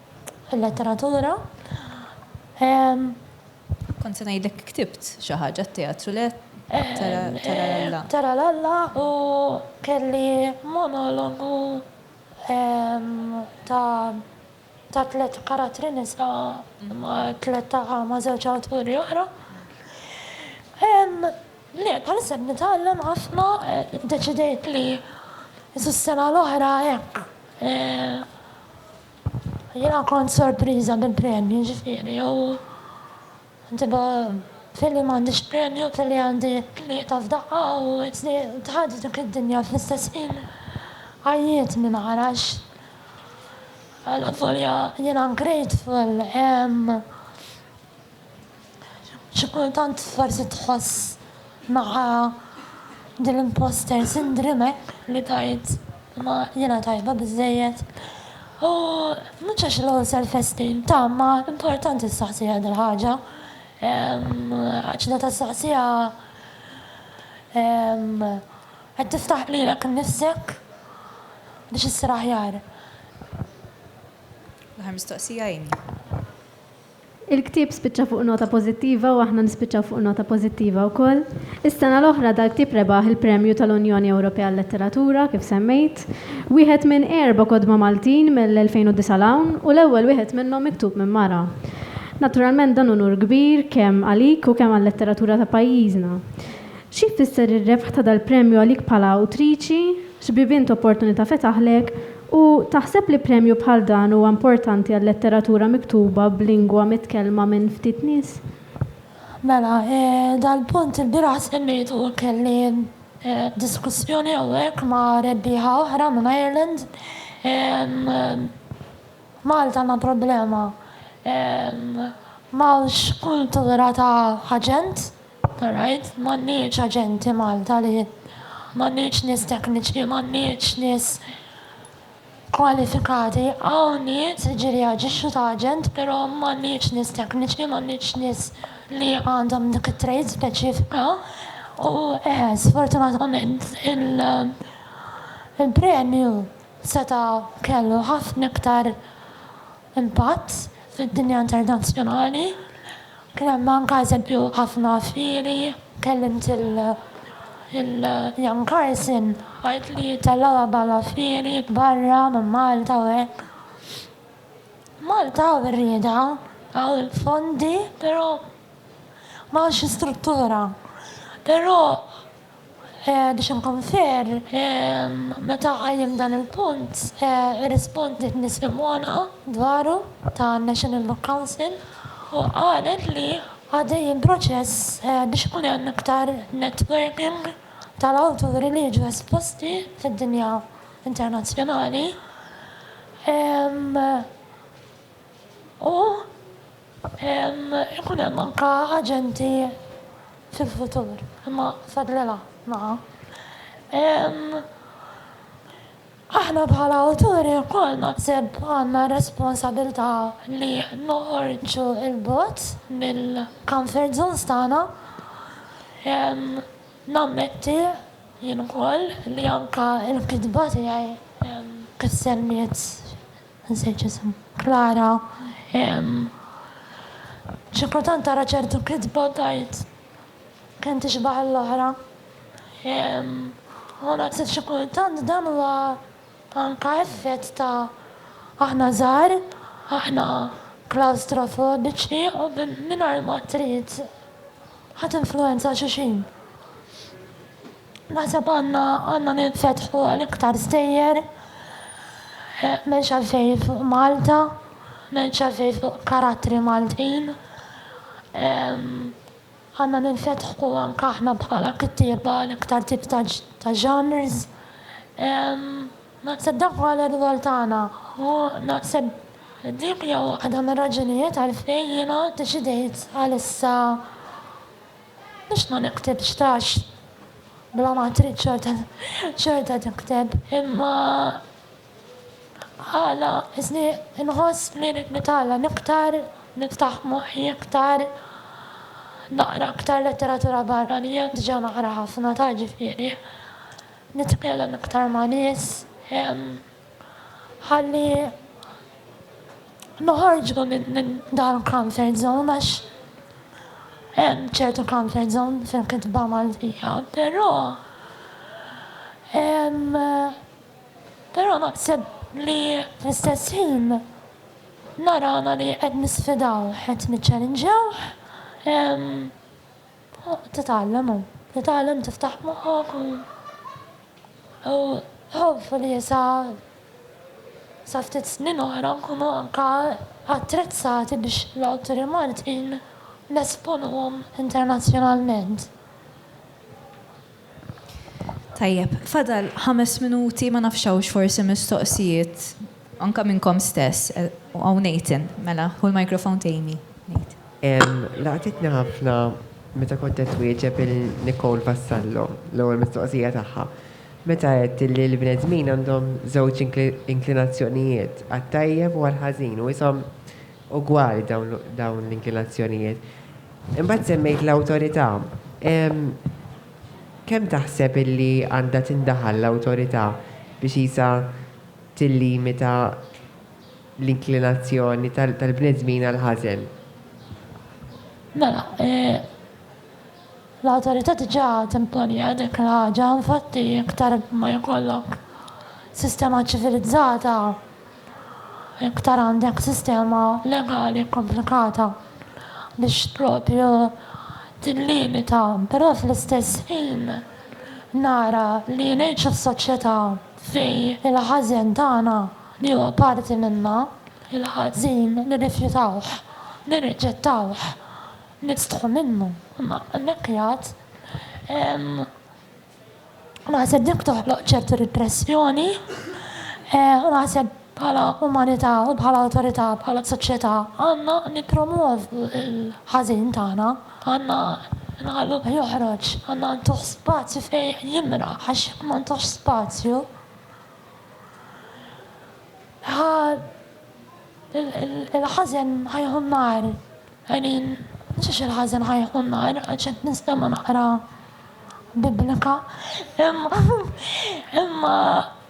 il-letteratura. Kont se ngħidlek ktibt xi ħaġa t-teatru, le? Taralalla. Taralalla u kelli monologu ta' tliet karattri nisa ma' tliet ma' żewġ awturi oħra. Le, bħalissa qed nitgħallem ħafna, deċidejt li s-sena l-oħra hekk. Jiena kont sorpriża bil-premju, ġifieri u ġibha f'ħin li m'għandix premju, f'ħin li għandi tlieta f'daqqa u tħadd dik id-dinja fl-istess ħin għajjitni ma arax. Avolja jiena grateful, Xi kultant forsi tħoss ma' din l-imposter syndrome li tgħid ma jiena tajba biżżejjed. U mhux għax low self esteem ta' ma importanti ssaqsiha dil-ħaġa. Għax meta ssaqsiha qed tiftaħ lilek innifsek biex issir aħjar. L-aħħar mistoqsija Amy. Il-ktieb spiċċa fuq nota pożittiva u aħna nispiċċaw fuq nota pożittiva wkoll. Is-sena l-oħra dal-ktieb rebaħ il-Premju tal-Unjoni Ewropea għal-Letteratura, kif semmejt. Wieħed minn erba' kotba Maltin mill-2009 'l hawn u l-ewwel wieħed minnhom miktub minn mara. Naturalment dan unur kbir kemm għalik u kemm għal-letteratura ta' pajjiżna. Xi jfisser ir-rebħ ta' dal-premju għalik bħala awtriċi? X'bibien t'opportunità fetaħlek? U taħseb li premju bħal dan huwa importanti għal-letteratura miktuba b'lingwa mitkellma minn ftit nies? Mela, dal-punt ilbieraħ semmejtu, kelli diskussjoni hawnhekk ma' rebbieħa oħra minn Ireland. F'Malta għandna problema, m'hawnx kultura ta' aġent. Alright, m'għandniex aġenti Malta li, m'għandniex nies tekniċi, m'għandniex nies kwalifikati, hawn nies jiġri jaġixxu ta' aġent pero' m'għandniex nies tekniċi, m'għandniex nies li għandhom dik it-trade speċifika u eħe sfortunatament il-premju seta' kellu ħafna iktar impatt fid-dinja internazzjonali. Kien hemm anke eżempju ħafna fieri, kellimt lil Jan Carson għidt li jittellgħuha bħala fieri barra minn Malta u hekk. Malta hawn ir-rieda, hawn il-fondi, però m'hawnx l-istruttura. Però Biex inkun fair, meta qajjem dan il-punt, irrispondiet nies imgħoneqa dwaru tan-National Book Council u qalet li għaddej il-proċess biex ikun hemm iktar networking tal-awturi li jiġu esposti fid-dinja internazzjonali u Ikun hemm anke aġenti fil-futur, imma fadlilha naqa'. Aħna bħala awturi wkoll naħseb għandna r-responsabilità li noħorġu 'l bogħod mill-comfort zones tagħna. Nammetti jien ukoll li anke l-kitba tiegħi kisser miet. Insejt x'isem. Klara, Ehm. Xi kultant ara ċertu kitba u tgħid, kemm tixbah għall-oħra. Ehm. U naħseb xi kultant dan huwa anke effett ta' aħna żgħar, aħna klawstrofobiċi u mingħajr ma trid ħa tinfluwenza xulxin. Naħseb għandna għandna ninfetħu għal iktar stejjer, m'hemmx għalfejn fuq Malta, m'hemmx għalfejn fuq karattri Maltin. Għandna ninfetħu anke aħna bħala kittieba għal iktar tip ta' ta' genres. Naħseb dak huwa l-irwol tagħna u naħseb dik hija waħda mir-raġunijiet għalfejn jiena ddeċidejt għalissa Biex ma niktibx tax bla ma trid xorta tikteb. Imma għala isni nħoss li rrid nitgħallem iktar, niftaħ moħħi iktar, naqra iktar letteratura barranija, diġa naqra ħafna ta' ġifieri nitkellem iktar ma' nies. ħalli noħorġu minn dan il-comfort zone għax hemm ċertu comfort zone fil-kitba Maltija, però però naħseb li fl-istess ħin narana li qed nisfidaw, qed niċċalinġjawh. Titgħallem u titgħallem tiftaħ moħħok u hopefully sa sa ftit snin oħra nkunu anka attrezzati biex l-awturi Maltin nesponuhom internazzjonalment. Tajjeb, fadal ħames minuti, ma nafx hawnx forsi mistoqsijiet anke minnkom stess. Hawn Nathan, mela, ħu l-microphone t'Amy, Nathan. Laqtitni ħafna meta kont qed twieġeb lil Nicole Vassallo, l-ewwel mistoqsija tagħha, meta għedt li l-bnedmin għandhom żewġ inklinazzjonijiet, għat-tajjeb u għall-ħażin, u qishom ugwali dawn l-inklinazzjonijiet. Imbagħad semmejt l-awtorità. Kemm taħseb illi għandha tindaħal l-awtorità biex qisha tillimita l-inklinazzjoni tal-bnedmin għall-ħażen? Mela, l-awtorità diġà timponija dik l-ħaġa. Infatti, iktar ma jkollok sistema ċivilizzata, Iktar għandek sistema legali komplikata biex propju tillimita, però fl-istess ħin nara li ngħix f'soċjetà fejn il-ħażen tagħna li huwa parti minna, il-ħażin nirrifjutawh, nirriġettawh, nistħu minnu. Imma hemmhekk jgħid hemm Naħseb dik toħloq ċertu ripressjoni. U naħseb bħala umanità u bħala awtorità, bħala soċjetà, għandna nippromwovu l-ħażin tagħna, għandna nħalluh joħroġ, għandna ntuh spazju fejn jimraħ għax jekk ma ntuhx spazju ħa il-ħażen ħa jieħu n-nar. Għenin, xiex il-ħażen ħa jieħu n-nar għax qed nistema' naqra Biblika. Imma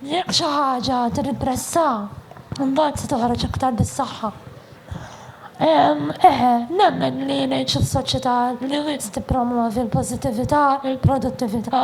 jekk xi ħaġa tirripressha, imbagħad se toħroġ iktar bis-saħħa. Eħe, nemmen li ngħix f'soċjetà li wisq tippromwovi l-pożittività, il-produttività,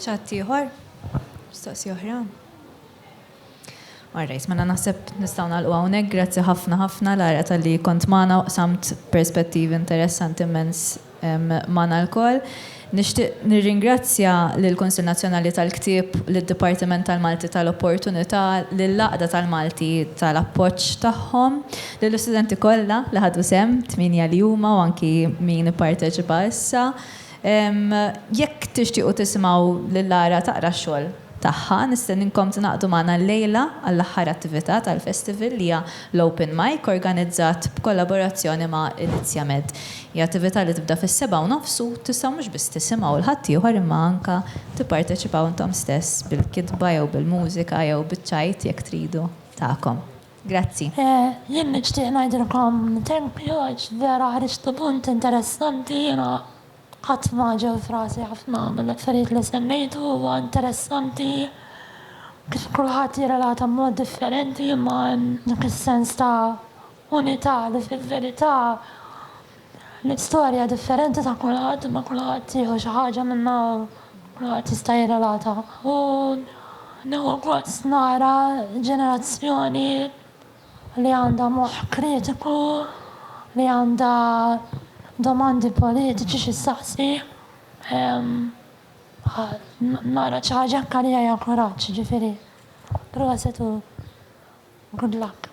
ċatt ieħor? Mistoqsi oħra? Alright, mela naħseb nistgħu nagħlqu hawnhekk. Grazzi ħafna ħafna Lara tal-li kont magħna u qsamt perspettivi interessanti immens magħna lkoll. Nixtieq nirringrazzja lill-Kunsill Nazzjonali tal-Ktieb, lid-Dipartiment tal-Malti tal-Opportunità, lill-Għaqda tal-Malti tal-appoġġ tagħhom, lill-istudenti kollha li ħadu sehem, tmienja li huma u anki min ipparteċipa issa, Jekk tixtiequ tisimgħu lil Lara taqra x-xogħol tagħha, nistenninkom tingħaqdu magħna llejla għall-aħħar attività tal-Festival li hija l-Open Mic organizzat b'kollaborazzjoni ma' Elizia Med. Hija attività li tibda fis-sebgħa u nofs u tistgħu mhux biss tisimgħu 'l ħaddieħor imma anke tipparteċipaw intom stess bil-kitba jew bil-mużika jew biċ-ċajt jekk tridu tagħkom. Grazzi. Jien nixtieq ngħidilkom thank you għax vera ħriġtu punt interessanti jiena qatt ma ġew f'rasi ħafna mill-affarijiet li semmejtu huwa interessanti kif kulħadd jirrelata b'mod differenti imma hemm dak is-sens ta' unità li fil-verità L-istorja differenti ta' kulħadd imma kulħadd jieħu xi ħaġa minnha u kulħadd jista' jirrelata. U nieħu gost nara ġenerazzjoni li għandha moħħ kritiku, li għandha domandi politiċi xi ssaqsi. Nara xi ħaġa hekk għalija hija kuraġġ, jiġifieri proset u good luck.